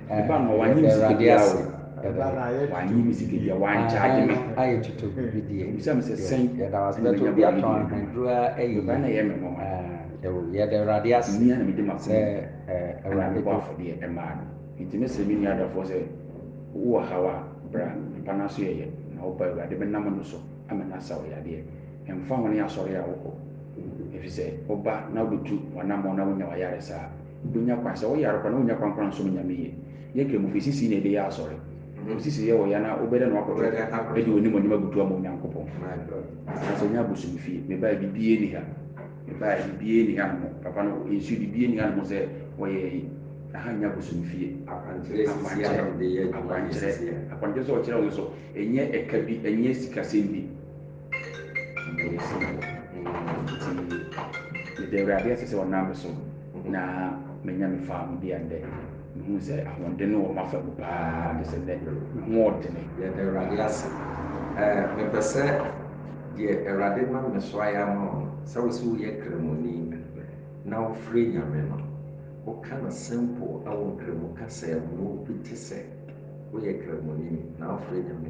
W'anyim sika biara o, w'anyim sika biara, w'ankyagye me. W'bisa me sɛ sɛn na menya bɔn yi bi mu. Dɛn na ɛyɛ me nwanwa? Mmia na mede m'asɛm na mebɔ afɔdeɛ ɛmaa no. Nti mesrɛ me nua dɔfoɔ sɛ, wowɔ haw a, bra, mpa no aso yɛyɛ, na wobɔ Awurade bɛnam no so ama no asa wo yadeɛ. Ɛmfa ho ne asɔre a wokɔ, ɛfiri sɛ woba na wobɛtu w'anammɔn na wonya w'ayaresa a, Wobɛnya kwan, sɛ woyare koraa na wonnya kwan koraa nsom Nyame yie. Yɛ Kramofo, esisii na ɛbɛyɛ asɔre. Wosisi yɛ wɔ yɛ na wobɛda no akɔto de w'animuonyam abutu ama Onyankopɔn. Anaasɛ nyɛ abosomifie. Mebaeɛ bibiaa nni ha. Mebaeɛ bibiaa nni ha nom papa no nsuo bibiaa nni ha nom sɛ wɔyɛ yi. Aha nyɛ abosomifie. Akwankyerɛ, akwankyerɛ, akwankyerɛ sɛ ɔkyerɛ wo nso ɛnyɛ ɛka bi ɛnyɛ sikasɛm bi. Meda Awurade ase sɛ ɔnam me so na manya me faamudi a nnɛ mehu sɛ ahoɔden no wɔ m'afa mu paa de sɛ nnɛ me ho ɔdene. Yɛda Awurade ase. Ɛɛ, mepɛ sɛ deɛ Awurade nam me so ayɛ ama wo no, sɛ wo sɛ woyɛ Kramoni na wofrɛ Nyame no, woka no simple wɔ Nkramu kasa mu, wompete sɛ woyɛ Kramoni na wofrɛ Nyame.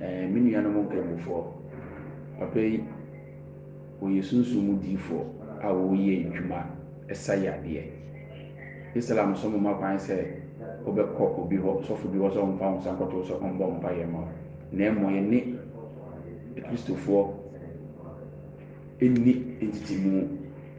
Ɛɛ, me nuanom nkramofoɔ, papa yi, wɔyɛ sunsum mu diifoɔ a wɔreyɛ adwuma sa yadeɛ. Islam so mma kwan sɛ wobɛkɔ obi hɔ, sɔfo bi hɔ sɛ ɔmfa wo nsa nkɔto wo sɛ ɔmmɔ mpaeɛ mma wo, na mmom yɛne Akristofoɔ nni ntetemu.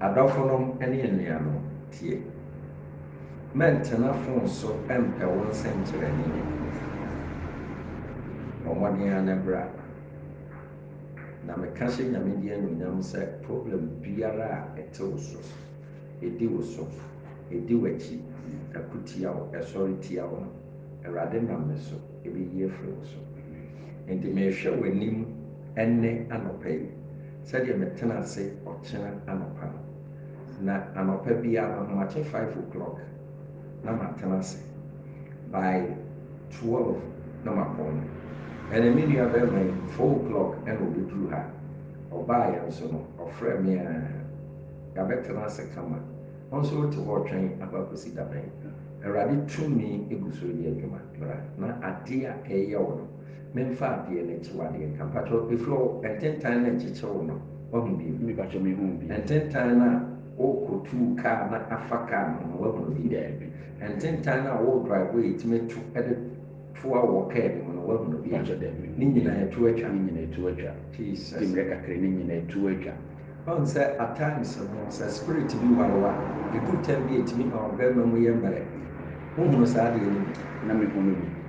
Adɔfonom ne anuanom, tie. Mɛntena fon so mpɛ wo nsɛnkyerɛnne ne nkuranhyɛ. Bɔ mmɔden ara na bra. Na meka hyɛ Nyame din anuonyam sɛ problem biara a ɛte wo so, ɛdi wo so, ɛdi w'akyi, ɛko tia wo, ɛsɔre tia wo no, Awurade nam me so ɛbɛyi afiri wo so. Enti mehwɛ w'anim ɛnnɛ anɔpa yi. Sɛdeɛ mɛtena ase ɔkyena anɔpa no, na anɔpa biara mahomakye five o'clock na matena ase, by twelve na mapɔn no. Ɛna me nua barima yi four o'clock ɛna ɔbɛduru ha, ɔbaeɛ nso no ɔfrɛ me aa, yɛabɛtena ase kama, wo nso wote hɔ retwɛn akɔ akɔsi dabɛn? Awurade tumi gu so reyɛ adwuma, bra na adeɛ a ɛreyɛ wo no, Menfa adeɛ no kye w'adeɛ ka. Mpakyɛw ɛfiri ɔ ntentan no nkyekye wo no w'ahu bi? Me pakyɛw me huu bi. Ntentan no a wo kɔ tuu car na afa car no ho no w'ahunu bi? Daabi. Ntentan no a wo drive a yɛtumi to de toa wo wɔ car no mu no w'ahunu bi? Mpakyɛw daabi me huu bi. Ne nyinaa atu atwa. Ne nyinaa atu atwa. Jesus. Di mmerɛ kakra ne nyinaa atu atwa. Wahu sɛ at times no sɛ spirit bi ware wo a ɛduru time bi a ɛtumi ma wo barima mu yɛ mmerɛ. Wohunu saa adeɛ no bi? Na me hunu bi.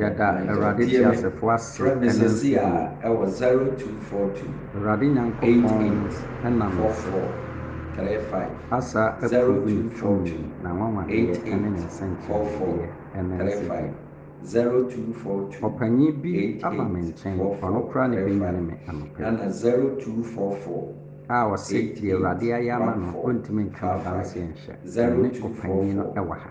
Yɛda Awurade teasefo ase ne mfidie. Awurade Nyankopɔn nam ne so asa akurubu ne tumi, n'anwanwadeɛ ne ne nsɛnkyerɛnnedeɛ ne mfidie. Ɔpanyin bi aba me nkyɛn, ɔno koraa na ɛbɛnyane me anɔpa yi, a ɔse deɛ Awurade ayɛ ama no ɔntumi nka no adanseɛ nhyɛ, me ne ɔpanyin no wɔ ha.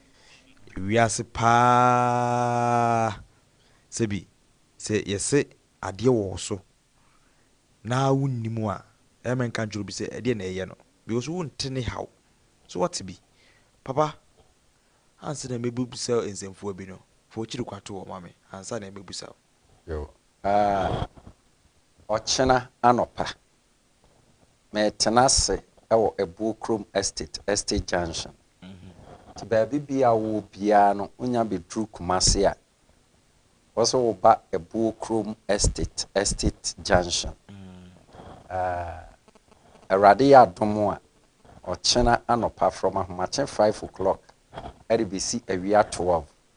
wiase paa sɛ bi sɛ yɛse adeɛ wɔ wo so na wonni mu a ɛma nka nkyerɛ obi sɛ ɛdeɛ na ɛyɛ no because wo nte ne haw so wate bi papa ansa na mɛ bisa wo nsɛmfua bi no fa okyiri kwa to hɔ ma me ansa na mɛ bisa wo. Yoo aah ɔkyena anɔpa. Meretena ase wɔ Abuo Kurom Estate, Estate Junction. Nti baabi biara a wowɔ biara no, wonya bɛduru Kumasi a, wɔ sɛ woba Abuo Kurom Estate, Estate Junction. Ahh. Awurade yɛ adom a, ɔkyena anɔpa from ahomakye five o'clock de bɛsi awia twelve,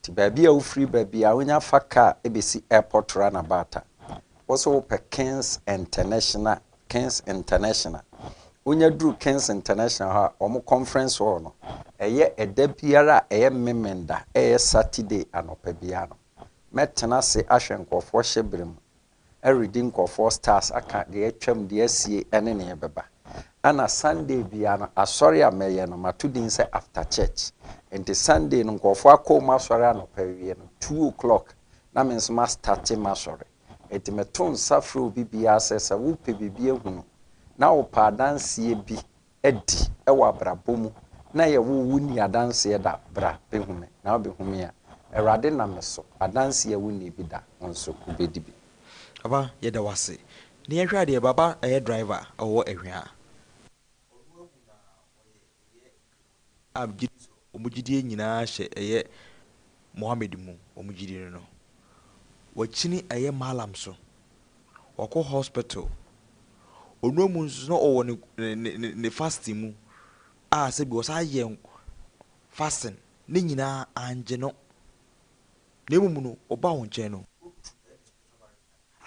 Nti baabi a wofiri baabi a wonya fa car bɛsi airport runabout a wo so wo pɛ Kings International Kings International wonya duru Kings International hɔ a wɔn conference hall no ɛyɛ ɛda biara a ɛyɛ Memenda ɛyɛ Saturday anɔpa biara no mɛtena ase ahwɛ nkurɔfoɔ hyɛ berɛ mu redi nkurɔfoɔ stars aka deɛ atwam, deɛ asie ɛne neɛ ɛbɛba. Ɛna Sunday biara no asɔre a mɛyɛ no mato din sɛ after church. Nti Sunday no nkurɔfoɔ akɔ wɔn asɔre anɔpa awie no two o'clock na me nso ma starte m'asɔre. Nti meto nsa frɛ obi biara sɛ sɛ wopɛ biribi ahunu na wopɛ adanseɛ bi adi wɔ abrabɔ mu na yɛ wo wo nni adanseɛ da bra bɛ hu me na wo bɛ hu me a awurade nam me so adanseɛ a wo nnii bi da wo nso wo bɛ di bi. Papa yɛda wo ase. Na yɛnhwɛ adeɛ baba ɛyɛ driver ɔwɔ ɛhwea. Ɔno awu na ɔyɛ ɛyɛ nkremoni. a megye di sɛ wɔn gyidie nyinaa hyɛ ɛyɛ Mohammed mu, wɔn gyidie no no, wakyini ɛyɛ Mallam so, wakɔ hospital, onua mu nso na ɔwɔ ne ne ne ne fasting mu a sɛbi ɔsan yɛ fasting, ne nyinaa anngye no, na mmom no ɔbaa wo nkyɛn no,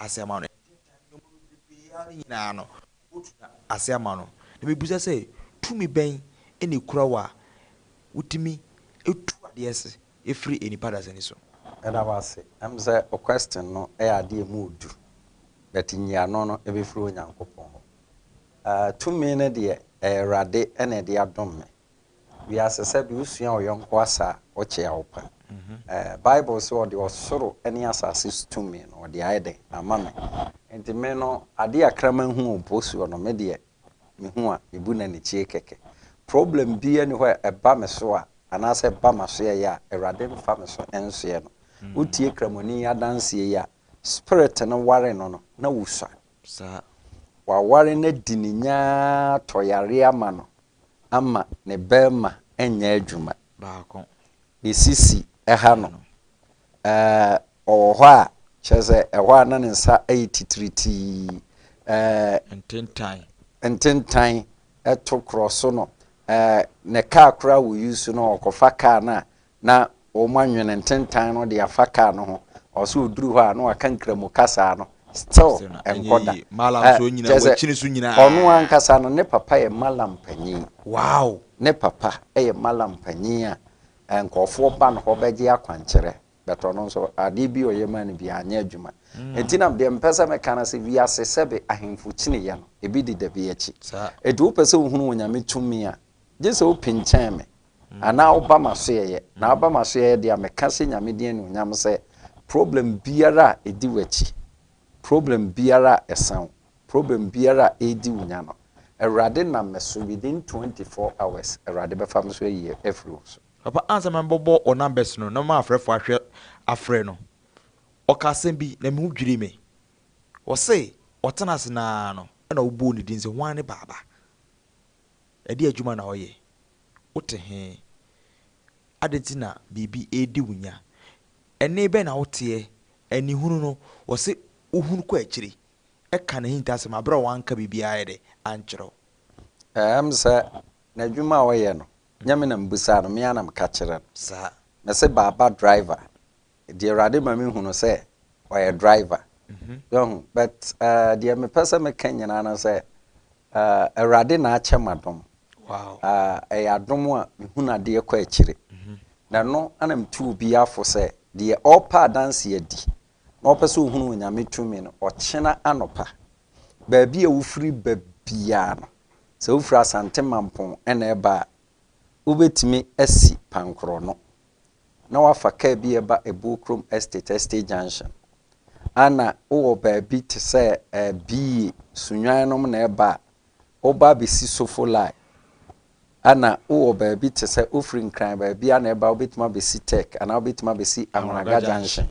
ase ama no. Ɛnkyɛ da, nneɛma bebrebe ara no nyinaa no, wobetu no ase ama no. Na mibisa sɛ, Tumi bɛn na ekura wo a wutumi tu ade ase firi nnipa dasani so? Meda wo ase. Ɛm sɛ wo question no yɛ ade a ɛmu du, but nyiano no ɛbɛfiri Onyankopɔn hɔ. Tumi no deɛ ɛyɛ Awurade na ɛde adom me. Wiase sɛdeɛ wosua wo yɔnko asa a, wokyea wo pa. Bible se ɔde ɔsoro ne asase so tumi no ɔde ayɛ dɛn? Ama me. Nti me no adeɛ a kraman hu wɔ mpo soɔ no me deɛ mehu a mebu no anikyie kɛkɛ. Problem biara nni hɔ a ɛba me so a anaasɛ ɛba m'asoɛeɛ a Awurade mfa me so nsoɛ no. Wotie Kramoni yi adanseɛ yi a, spirit no ware no no na wosua. Waware no adi ne nya ara tɔ yareɛ ama no ama ne bɛrima nyɛ adwuma. Baako. Ne sisi ha no, ɛɛ, ɔwɔ hɔ a, kyerɛ sɛ ɛhɔ a na ne nsa yɛ titiritii, ɛɛ. Ntentan. Ntentan to korɔ so no, ɛɛ, ne kaa koraa wɔ use no, ɔkɔfa kaa no a, na wɔanwene ntentan no de afa car no ho, ɔwɔ sɛ ɔduru hɔ a na waka Nkramu kasaa no, still nkɔ da. Ɛ, kyerɛ sɛ, ɔno ankasa no ne papa yɛ Mallam panyin. Ne papa yɛ Mallam panyin a nkurɔfoɔ ba ne hɔ bɛgye akwankyerɛ, but ɔno nso adeɛ bi a ɔyɛ maa no biara anyɛ adwuma. Nti na deɛ mepɛ sɛ meka no sɛ, wiase sɛbe ahemfo kyiniiɛ no, ebi deda bi akyi. Nti wopɛ sɛ wohunu Onyame tumi a, gye sɛ wopinkyɛn me, Anaa woba m'asoɛeɛ. Na woba m'asoɛeɛ deɛ a, meka sɛ Nyame din anuonyam sɛ, problem biara a ɛdi w'akyi, problem biara a ɛsã wo, problem biara a ɛredi wo nya no, Awurade nam me so within twenty four hours, Awurade bɛfa me so ayi afiri wo so. Papa ansa mɛbɔbɔ wɔ numbers no na m'afrɛfoɔ ahwɛ afrɛ no, ɔkaa asɛm bi na me ho dwirii me. Ɔse ɔtena ase no ara no na ɔbɔɔ ne din sɛ hwan ne Baaba? Ɛdeɛn adwuma na ɔyɛ? Wote he? Adɛn nti na biribi redi wo nya? Ɛnne bɛn na woteɛ? Anihunu no, wɔse wohunu kɔ akyiri. Ɛka n'ahintasɛm a, berɛ a wanka biribiara ayɛ dɛ? Ankyerɛ wo. Ɛm sɛ, n'adwuma a ɔyɛ no, nyɛ me na mebisaa no, me ara na meka kyerɛ no. Saa. Mese, Baaba driver, Deɛ awurade ma me hunu sɛ ɔyɛ driver yɛhu but uh, deɛ mepɛ sɛ meka nyinaa no sɛ uh, awurade na akyɛ ma dom wow. uh, ɛyɛ adom a mehunu adeɛ kɔ akyire mm -hmm. na ɛno ana metu obi afo sɛ deɛ ɔrepa adanse adi na ɔpɛ sɛ ɔhunu onyame tumi no ɔkyena anɔpa baabi a wofiri ba biara no sɛ wofiri asante mampɔn ɛna ɛba a wobɛtumi asi pankorɔ no na wafa kaa bi reba Ɛbuo Krom Estate, Estate Junction, a na wowɔ baabi te sɛ ɛɛ BA, Sunyani nom na ɛba a, woba abɛsi Sofo Line, a na wowɔ baabi te sɛ wofiri Nkran baabi a na ɛba a wobɛtumi abɛsi Tech anaa wobɛtumi abɛsi Ahunagya Junction.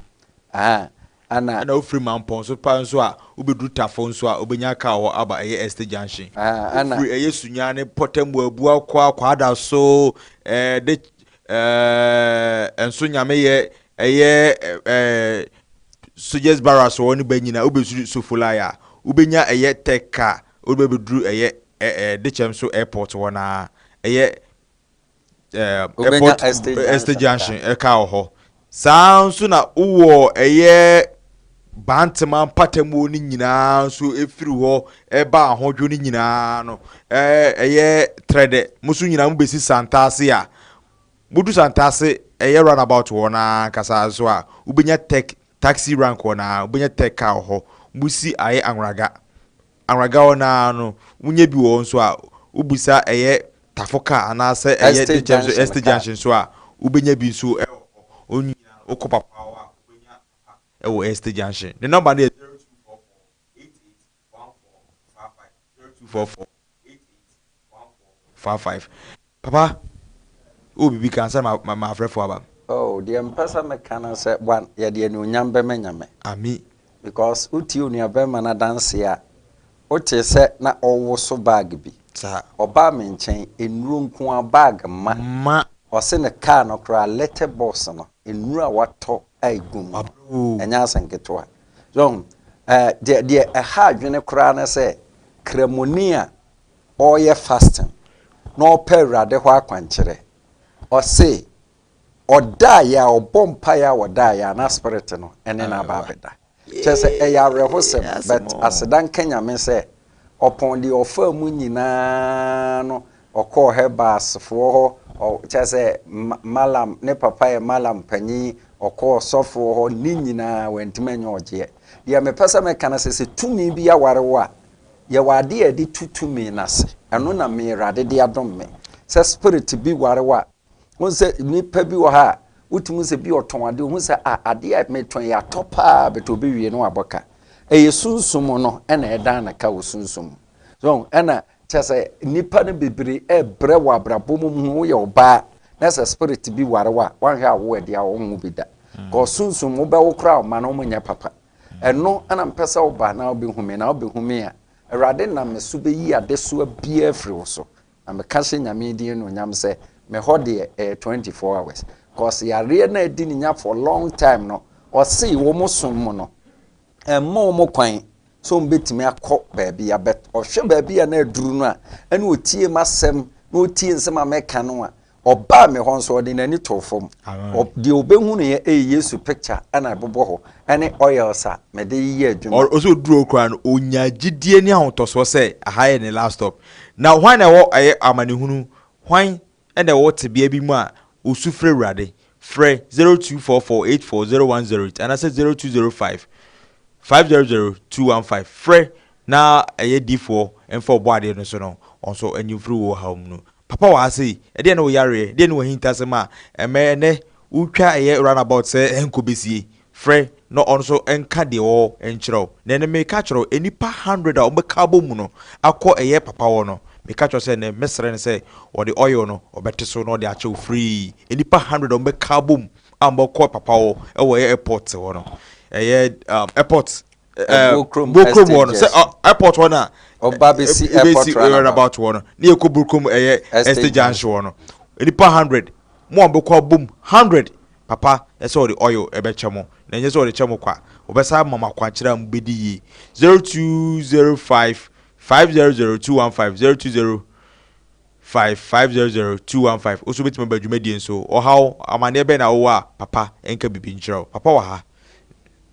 Ahaa. Ana. Ɛna wofiri Mampɔn so paa nso a, wobɛduru Tafo nso a, wobɛnya kaa wɔ hɔ aba ɛyɛ Estate Junction. Ahaa, ana. Wofiri ɛyɛ Sunya ne Pɔtam Abua kɔ a, Kwaada so ɛɛ de ɛɛ nso Nyameyɛ ɛyɛ ɛɛ Soldiers Barracks wɔ hɔ no ba nyina a, wobɛsuru Sofolai a, wobɛnya ɛyɛ Tech car a, wode bɛbɛduru ɛyɛ ɛɛ Dekyɛm so Airport hɔ no ara, ɛyɛ ɛɛ airport estate junction ɛka wɔ hɔ saa nso na wowɔ ɛyɛ bantama mpatamuo no nyinaa nso efiri hɔ ɛba ahodwo no nyinaa no ɛɛ ɛyɛ trɛdɛ mo nso nyinaa mo besi santaase a mo du santaase ɛyɛ run about hɔ naa kasa nso a wobɛnya tech taxi rank hɔ naa wobɛnya tech car wɔ hɔ mo si ayɛ anwuraga. Anwagaw no ara no, wonya bi wɔ hɔ nso a, wobu sa ɛyɛ tafo car anaasɛ ɛyɛ Estate dwetɛ nso, junction Estate car. junction nso a, wobenya bi nso wɔ hɔ. Wɔn nyinaa, wokɔ Papoawa a, wobenya papa wɔ Estate junction. Ne nɔmba no yɛ 0244 88 1455, 0244 88 Far five papa wowɔ biribi ka ansa na mafrɛfoɔ aba. Oh deɛ mpɛsɛ meka no sɛ bwan yɛde anuonyam bɛma Nyame. Amen. Because wotie onuabarima no adanseɛ a, wotee sɛ na ɔwoso bag bi. Saa. Ɔbaa me nkyɛn, nnuro nko ara, bag mma. Mma. Ɔse ne car no koraa letter box no, nnuro a watɔ a ɛgu mu. Wabere oo. Ɛnyɛ asɛm ketewa. So wohu? Eh, deɛ, deɛ ɛha adwene koraa ne sɛ, Kramoni a ɔɔyɛ fasting na ɔɔpɛ Ewuradze hɔ akwankyerɛ. Ɔse, Ɔdaeɛ a, ɔbɔ mpaeɛ a ɔdaeɛ a, na Spirit no ne no aba abɛda. Kyerɛ sɛ, ɛyɛ awerɛhosɛm, but aseda nka Nyame sɛ, ɔpɔn deɛ ɔfaa mu nyinaa no, ɔkɔɔ hɛ bas foɔ hɔ, ɔ, kyerɛ sɛ, ma, Mallam, ne papa yɛ Mallam panyin, ɔkɔɔ sɔfoɔ hɔ, ne nyinaa, wantumi anyɛ ɔgyeɛ. Deɛ mepɛ sɛ meka no sɛ, sɛ tumi bi aware wo a, Yɛ wɔ ade a yɛde tu tumi no ase. Ɛno na me Awurade de adom me. Sɛ spirit bi ware wo a, wohu sɛ nnipa bi wɔ hɔ a, wotumi sɛ bi ɔtɔn ade, wohu sɛ a adeɛ a metɔn yi atɔ paa, but obi wie no wabɔ ka. Ɛyɛ sunsum no ɛna ɛdan no ka wɔ sunsum mu. So ɛna kyɛ sɛ nnipa no bebree ɛbrɛ wɔ abrabɔ mu mu woyɛ ɔbaa na sɛ spirit bi ware wo a, wanhwɛ a wo ɛde a wɔnwo bi da. Kɔ sunsum wobɛwo koraa ɔma no wɔnyɛ papa. Ɛno na mepɛ sɛ woba na wobɛhu me, na wobɛhu me a Awurade nam me so bɛyi adesoa biara afiri wo so. Na meka hyɛ Nyame din anuonyam sɛ, me hɔ deɛ ɛyɛ 24 hours. Cause yareɛ no a adi ne nya for long time no, ɔse wɔn som mu no, ɛmma wɔn kwan sɛ wɔn bɛtumi akɔ baabi a, but ɔhwɛ baabi a na aduru no a, ɛna ɔtie m'asɛm, na ɔtie nsɛm a mɛka no a, Ɔbaa me hɔ nso, ɔde n'ani too fam. Deɛ ɔbɛhunuiɛ yɛ Yesu picture na ɛbobɔ hɔ, ne oils a mede yɛ adwuma. Ɔsɛ ɔduru hɔ koraa no, ɔnya gyidie ne ahotɔsoɔ sɛ aha yɛ ne last stop. Na hwan na ɛwɔ amanehunu, hwan na ɛwɔ tebea bi mu a ɔsu frɛ Awurade? Frɛ 0244840108 anaasɛ 0205 500215. Frɛ na ɛyɛ difoɔ mfa ɔbɔadeɛ no so no, ɔnso nyi mfiri wo haw mu. Papa wɔ ha sei, ɛdeɛn ne wo yareɛ, deɛn ne w'ahintasɛm a ɛmɛ ɛnnɛ wotwa ɛyɛ run about sɛ nkɔ bɛsie, frɛ na ɔno nso nka deɛ ɔwɔ nkyerɛ wo. Na ɛnnɛ mereka akyerɛ wo, nnipa hundred a wɔbɛka abɔ mu no akɔ ɛyɛ papa hɔ no, meka kyerɛ wo sɛ ɛnnɛ mɛsrɛ no sɛ ɔde oil no ɔbɛte so na ɔde akyɛ wo free. Nnipa hundred a wɔbɛka abɔ mu a wɔbɛkɔ papa hɔ wɔ ɛyɛ airport hɔ no, ɛyɛ airport Burkrom hɔ no sɛ airport hɔ na ɔba bɛsi airport runabout hɔ no ne yɛkɔ Burkrom ɛyɛ estate junction hɔ no nipa hundred mo a wɔbɛkɔ abom hundred papa ɛsɛ wɔde oil ɛbɛkyɛ mo na ɛnyɛ sɛ wɔde kyɛ mo kwa wɔbɛsa ama mo akwankyerɛ a mobɛdi yie zero two zero five five zero zero two one five zero two zero five five zero zero two one five o nso bɛtumi aba dwumadie nso ɔhaw amaneɛ bɛn na wowɔ a papa ɛnka biribi nkyerɛ wo papa wɔ ha.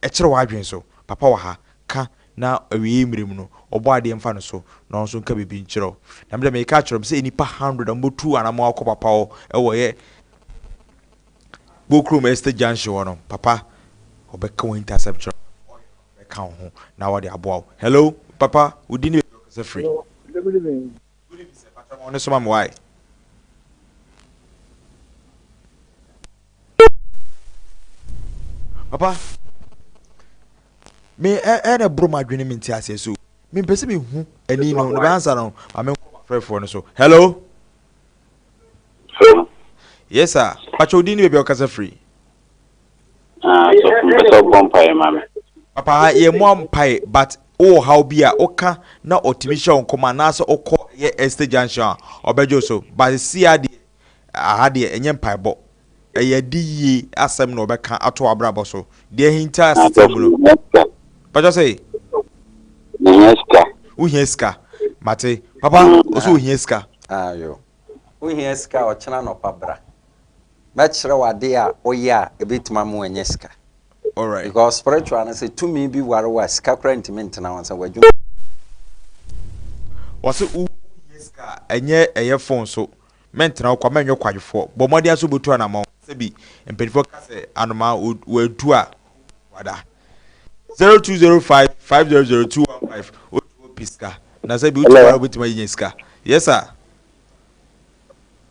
Ɛkyerɛ w'adwene so, Papa wɔ ha, ka, na awiei mmere mu no, Ɔbɔadeɛ mfa no so, na ɔno nso nka biribi nkyerɛ wo. Na me de mereka akyerɛ mo sɛ nnipa hundred a wɔbɛtu anammɔn akɔ Papa hɔ wɔ yɛ Bookroom Estate Junction hɔ no, Papa ɔbɛka wɔn ntasɛm kyerɛ wo, na ɔne wɔn bɛka wo ho, na ɔde aboa wo. Hello, Papa, wo din ne baabi a wokasa firi? Hello, good evening. Wode bi sɛ fata ma wo ne soma me wai. Papa me ɛɛ na ɛboro m'adwene me nti aseɛ so me mpɛ sɛ me hu ɛni no na bɛansa no ma me nkɔ m'afrɛfoɔ no so hello yes sir pakyɛ odin ne baabi a ɔkasa firi Ah, so mpɛ sɛ ɔbɔ mpaeɛ ma me. Papa ha yɛ mua mpae but wowɔ haw bi a woka na ɔtumi hyɛ wo nkɔm anaasɛ wokɔ yɛ Esther junction a ɔbɛgye so but seesei ara deɛ aha deɛ ɛnyɛ mpaebɔ ɛyɛ adi yie asɛm na ɔbɛka ato w'abrabɔ so deɛ ahinta asetena mu no patwa sɛ Mehia sika. wohia sika mate papa ɔsɛ ohia sika. Ayo. Wohia sika a ɔkyena anɔpa bra. Mɛkyerɛ wo adeɛ a woyɛ a ɛbɛtumi ama woanya sika. Because spiritual no sɛ tumi bi ware wo a, sika koraa ntumi ntena wo nsa, w'adwuma. Wɔse wo hia sika a, ɛnyɛ ɛyɛ phone so. Mɛntena wo kwa, mɛnyɛ ɔkwadwofoɔ. Bɔ mmɔden ara sɛ wobɛtu anamɔn. Sɛbi mpaninfoɔ ka sɛ anomaa wɔadu a, ɔnhu kwada. Zero two zero five five zero zero two one five Otu hɔ pi sika na sɛbi wotu hɔ ara wobɛtumi anya sika. Yes sir.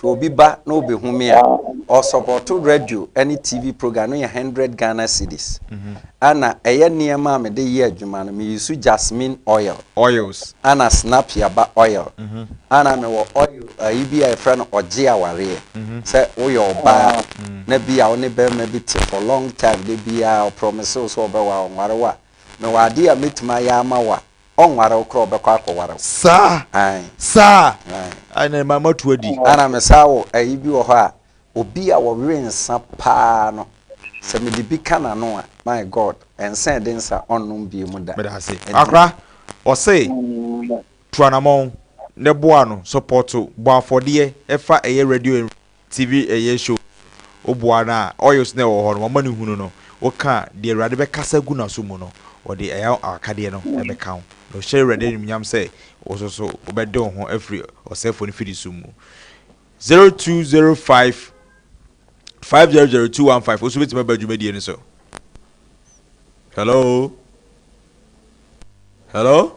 Hwɛ obi ba na obehu me a ɔsɔpɔto radio ne TV program no yɛ hundred Ghana cedis. Ɛna ɛyɛ nneɛma a mede yɛ adwuma no me use jasmine oil. Oils. Ɛna snapia ba oil. Ɛna mewɔ oil ayi bi a yɛfrɛ no ɔgye awareɛ. Sɛ woyɛ ɔbaa na bi a wo ne barima bi te for long time da biara ɔprɔmese wo sɛ ɔbɛwa wo a ɔnware wo a mewɔ adeɛ a mɛtumi ayɛ ama wo a Ɔnware wo kora ɔbɛkɔ akɔware wo. Saa Ae. saa Ae. Ae na ɛma moatu adi. Ana me saa wo ayi bi wɔ hɔ a obi a ɔwe nsa paa no sɛ mede bi ka n'ano a my God nsa ɛde nsa ɔnnom biemu da. Meda ase. Ɛnti. Akora ɔse tu anamɔn ne boa no support bɔ afɔdeɛ fa ɛyɛ radio and. TV ɛyɛ show wo boa no a oils no a ɛwɔ hɔ no wama no hunu no woka a deɛ awurade bɛkasa agu naso mu no ɔde ɛyɛ awakadeɛ no ɛbɛka wo na ɔhyɛ awurade animuonyam sɛ wososo wobɛde wo ho afiri ɔsɛfoɔ no fidi som mu 0205 500215 woso bɛtumi aba dwumadie no so hello hello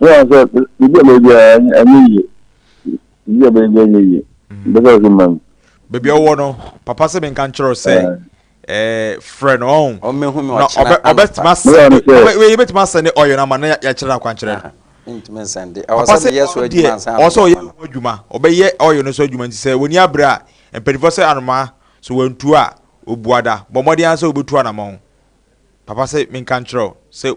Yeah, so you get baby, I need you. You get baby, I need you. That's what you mean. Baby, I want to. Papa said, "Ben can't you say?" Eh, friend, oh, oh, me, me, no, obe, obe, tuma send, obe, we, obe, tuma send, oh, you know, man, ya, ya, chira, kwan, chira. Ntumi send. Papa sɛ yɛ so adwuma nsa. Ɔsɛ ɔyɛ ho adwuma. Ɔbɛyɛ ɔyɛ no so adwuma nti sɛ wɔni abira a mpanyinfoɔ sɛ anoma so wɔntu a obuada bɔ mmɔden ara sɛ obetu anamɔn. Papa sɛ menka nkyerɛw sɛ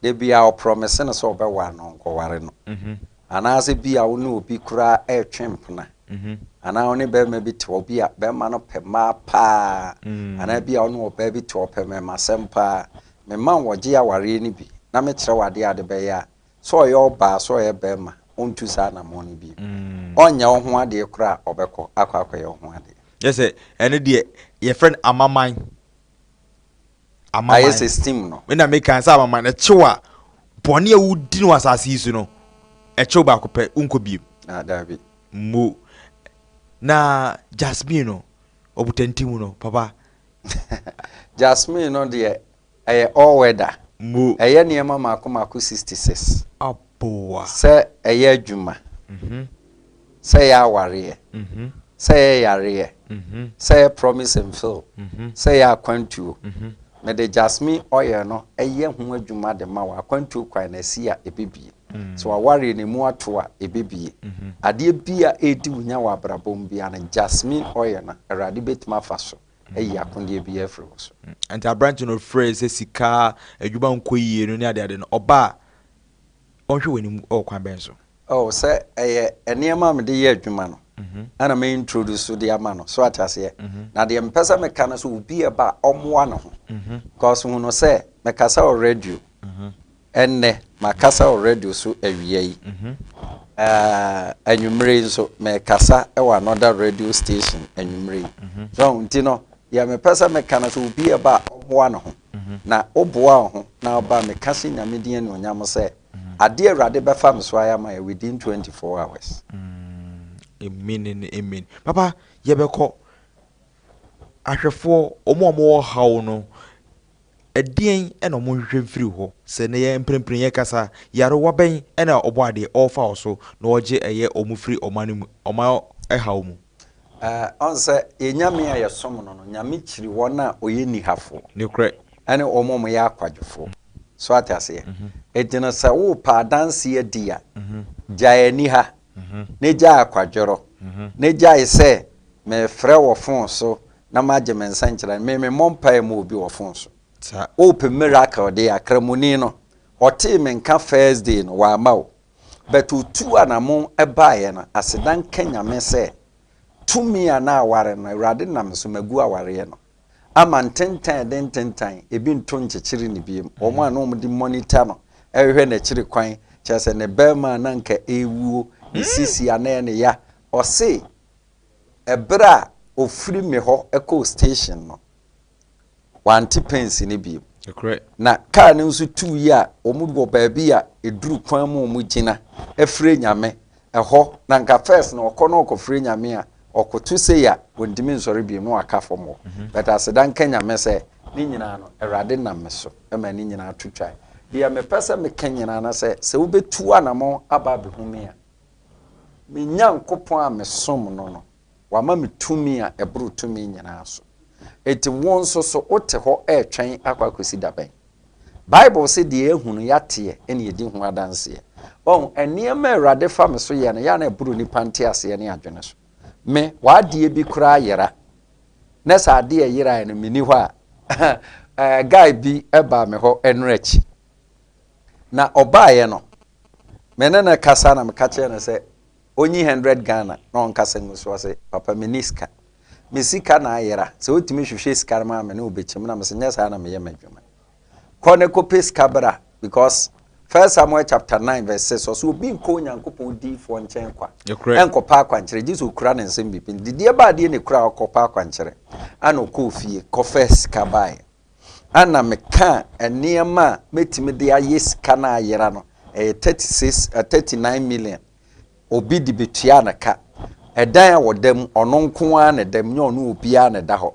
Da biara ɔprɔmise no sɛ ɔbɛware no, ɔnkɔware no. Anaasɛ bi a wo ne obi koraa retwe mpena, anaa wo ne barima bi te hɔ, bi a barima no pɛ mmaa paa, anaa bi a wo ne ɔbaa bi te hɔ, ɔpɛ mmarimasɛm paa. Mema wo wɔgye awareɛ no bi, na mekyerɛ wo adeɛ a wode bɛyɛ a, sɛ ɔyɛ ɔbaa, sɛ ɔyɛ barima, ɔntu saa anammɔn no bio. Ɔnyɛ wo ho adeɛ koraa a, ɔbɛkɔ akɔ akɔyɛ wo ho adeɛ. Kyerɛ sɛ, ɛno deɛ, wɔfrɛ no amaman. Ayɛ sɛ steam no. Me na me kan sɛ amaman ɛkyew a bɔne a wodi no wɔ asase yi so no ɛkyew baako pɛ wonkɔ biem. Ah daabi. Mmo. Na Jasmine no ɔbotanti mu no papa. Jasmine no deɛ ɛyɛ all weather. Mmo. Ɛyɛ nneɛma mako mako 66. Aboa. Sɛ ɛyɛ adwuma. Mhm. sɛ yɛ awareɛ, sɛ yɛ yareɛ, sɛ yɛ promise and fail, sɛ yɛ akwantuo. Mede jasmine oil no yɛ ho adwuma de ma wo akwantuo kwan no asi a ɛbɛbie. Sɛ wawareɛ no ɛmu ato a ɛbɛbie. Adeɛ bi a ɛredi wo nya wɔ abrabɔ mu biara no jasmine oil no Awurade bɛtumi afa so ayi akodeɛ biara afiri wo so. Nti aberante no ɔfrɛɛ sɛ sika, adwuma nkɔ yie no ne adeade no ɔbaa. ɔnhwɛ w'anim wɔ ɔkwan bɛn so? Oh, sɛ ɛyɛ nneɛma a mede yɛ adwuma no na me introduce so de ama no, so wate aseɛ? Na deɛ mepɛ sɛ meka no sɛ obi a ɛba a ɔmmoa ne ho, cause hu no sɛ mekasa wɔ radio ɛnnɛ, makasa wɔ radio so awia yi, eh, anwummerɛ yi nso mekasa wɔ another radio station anwummerɛ yi, so nti no deɛ mepɛ sɛ meka no sɛ obi a ɛba a ɔmmoa ne ho. Na wo boa wo ho na wo ba me ka se Nyame din anuonyam sɛ adeɛ awurade bɛfa me so ayɛ ama yɛ within 24 hours. Amen and amen papa yɛbɛkɔ ahwɛfoɔ ɔmo a ɔmo wɔ haw no ɛdeɛn ɛna ɔmo nhwehwɛ mfiri hɔ sɛ na yɛ mprempren yɛ kasa yarewa bɛn ɛna ɔbɔ adeɛ ɔɔfa ɔso na ɔgye ɛyɛ ɔmo firi ɔman no mu ɔman ɛhaw mu. Ɔn sɛ yɛn Nyame a yɛsom no no, Nyame kyiri wɔn a ɔyɛ nihafo ne wɔn a wɔyɛ akwadwofo. So ate aseɛ? Enti no sɛ worepɛ adanse adi a, gyae aniha, ne gyae akwadworo, ne gyae sɛ mefrɛ wɔ fon so na magye me nsɛnkyerɛnne. Me memmɔ mpaeɛ mma obi wɔ fon so. Worepɛ miracle deɛ a, Kramoni no, ɔtee me nka Thursday no, wamma wo. But otuu anamon baeɛ no aseda nka Nyame sɛ tumi a na aware no Awurade nam so magu awareɛ no ama ntentan a ɛde ntentan ebi nto nkyekyere no biom wɔn a na wɔn de monitor no ɛrehwɛ n'akyiri kwan kyerɛ sɛ ne barima a na nka ɛrewuo ne sisi a na ɛyɛ ne ya ɔse ɛberɛ a ɔfiri me hɔ kɔɔ station no. wante pɛnsi no bio. Na kaa no nso tuu yi a, wɔwɔ baabi a ɛduru kwan mu a wɔgyina frɛ Nyame. Ɛhɔ, na nka first no ɔkɔ na ɔkɔfrɛ Nyame a, ɔkoto sei a, ɔntumi nsɔre bio na waka fam hɔ. But aseda nka Nyame sɛ, ne nyinaa no, Awurade nam me so ma ne nyinaa to twae. Deɛ mepɛ sɛ meka nyinaa no sɛ, sɛ wobɛtu anamɔn aba abɛhu me a, me Nyankopɔn a mesom no no, Wama me tumi a ɛboro tumi nyinaa so. Enti wo nso so wote hɔ retwɛn akɔ akɔsi da bɛn? Bible se deɛ yɛahu no, yɛateɛ, ɛne yɛdi ho adanseɛ. Wahu, nneɛma a Awurade fa me so yɛ no, yɛ a na ɛboro nnipa nteaseɛ ne adwene so. Me, w'adeɛ bi koraa yera. Na sɛ adeɛ a ɛyeraeɛ no menni hɔ a, eh, guy bi baa me hɔ ɛno akyi. Na ɔbaeɛ no, me ne no kasa na meka kyerɛ no sɛ, Onyi hundred Ghana na ɔnkasa ngu so ɔse papa menni sika. Me sika na ayera, sɛ wotumi hwehwɛ sika no ma me ne wo bɛkyim na mese nyɛ saa na meyɛ m'adwuma. Kɔ ne kɔpɛ sika bra because First Samuel chapter nine verse six ɔse obi nkɔ Onyankopɔn diyifoɔ nkyɛn kwa nkɔpɛ akwankyerɛ gyesɛ okura ne nsɛm biribi nti deɛ ɛba adeɛ na ekura ɔkɔpɛ akwankyerɛ ana ɔkɔɔ fie kɔfɛ sika baeɛ ana mekaa nneɛma a mɛtumi de ayɛ sika no ayera no ɛyɛ thirty six, thirty nine million. obi de betua no ka. Ɛdan a ɔda mu, ɔno nko ara na ɛda mu, nyɛ ɔne obiara na ɛda hɔ.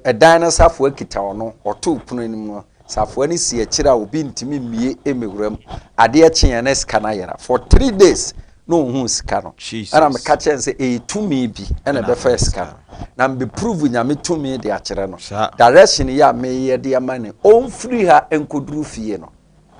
Ɛdan no safoa kita ɔno, ɔto pono anim no, safoa no si akyire a obi ntumi mmue mmɛwura mu. Adeɛ kyeeɛ na sika no ayera. For three days na ɔnhuu sika no. Ɛna meka kyerɛɛ no sɛ ɛyɛ tumi bi na ɛbɛfaa sika no. Na mebɛ prove Nyame tumi de akyerɛ no. Direction yi a mereyɛ de ama no, ɔmfiri ha nkɔduru fie no.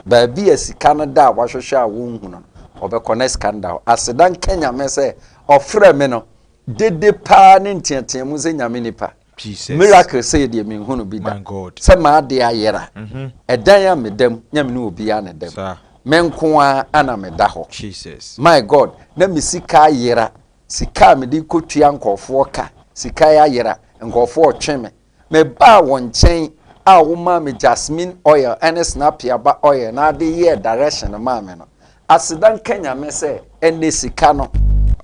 Baabi a sika no da a wahwehwɛ a wonhu no no, ɔbɛkɔ na sika no da hɔ. Aseda nka Nyame sɛ ɔfrɛɛ me no, dede paa ne nteateamu sɛ Nyame nipa. Jesus. Miracle sɛ yɛdeɛ menhu no bi da. My God. Sɛ m'adeɛ ayera. Ɛdan a meda mu, Nyame ne obiara ne da mu. Saa. Me nko ara ana meda hɔ. Jesus. My God, na me sika ayera, sika a mede kɔtua nkɔɔfoɔ ka, sika yi ayera, nkɔɔfoɔ retwe me, Mebaa wo nkyɛn a womaa me jasmine oil ne snapiaba oil na ade yɛɛ direction maa me no. Aseda nka Nyame sɛ ɛnnɛ sika no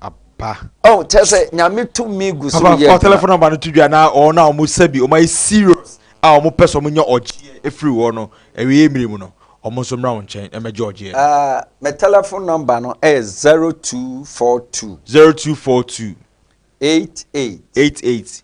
aba. Oh kyerɛ sɛ Nyame tumi gu so yɛ adwuma. Papa fa telephone number no to dwa na wɔn a wɔn sɛ bi wɔn ayɛ serious a wɔn pɛ sɛ wɔn nya ɔgyeɛ efiri wɔ no awieɛ mmere mu no wɔn nso mmra wo nkyɛn na mɛgye ɔgyeɛ no. Ah me telephone number no ɛyɛ zero two four two. Zero two four two. Eight eight. Eight eight.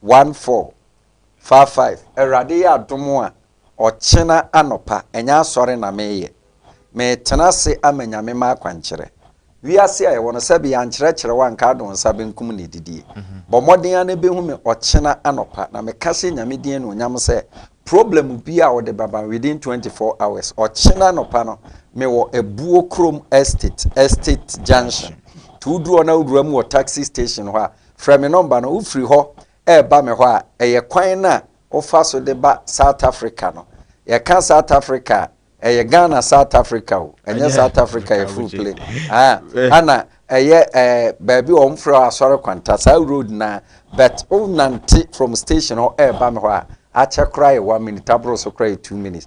One four four five Awurade yɛ adom a ɔkyena anɔpa ɛnyɛ asɔre na meyɛ Metena ase ama Nyame m'akwankyerɛ Wiase a yɛwɔ no sɛbe yɛankyerɛkyerɛ wo anka ado nsa benkum na ɛdidie Bɔ mmɔden ara na ɛbɛhu me ɔkyena anɔpa Na meka hyɛ Nyame din anuonyam sɛ Problem biara a wode bɛba me within twenty four hours Ɔkyena anɔpa no mewɔ Abuo Krom Estate, Estate Junction Nti wodu hɔ na wowura mu wɔ taxi station hɔ a Frɛ me nɔmba no. Wofiri hɔ reba me hɔ a, ɛyɛ kwan no a wofa so de ba South Africa no. Yɛka South Africa a, ɛyɛ Ghana South Africa o, ɛnyɛ South Africa a yɛforo plane. Aah, ɛna ɛyɛ ɛɛ baabi a wɔfrɛ hɔ Asɔre Kwanta, saa road no ara. But wonante from station hɔ reba me hɔ a, akyɛ koraa yɛ one minute, aboro so koraa yɛ two minutes.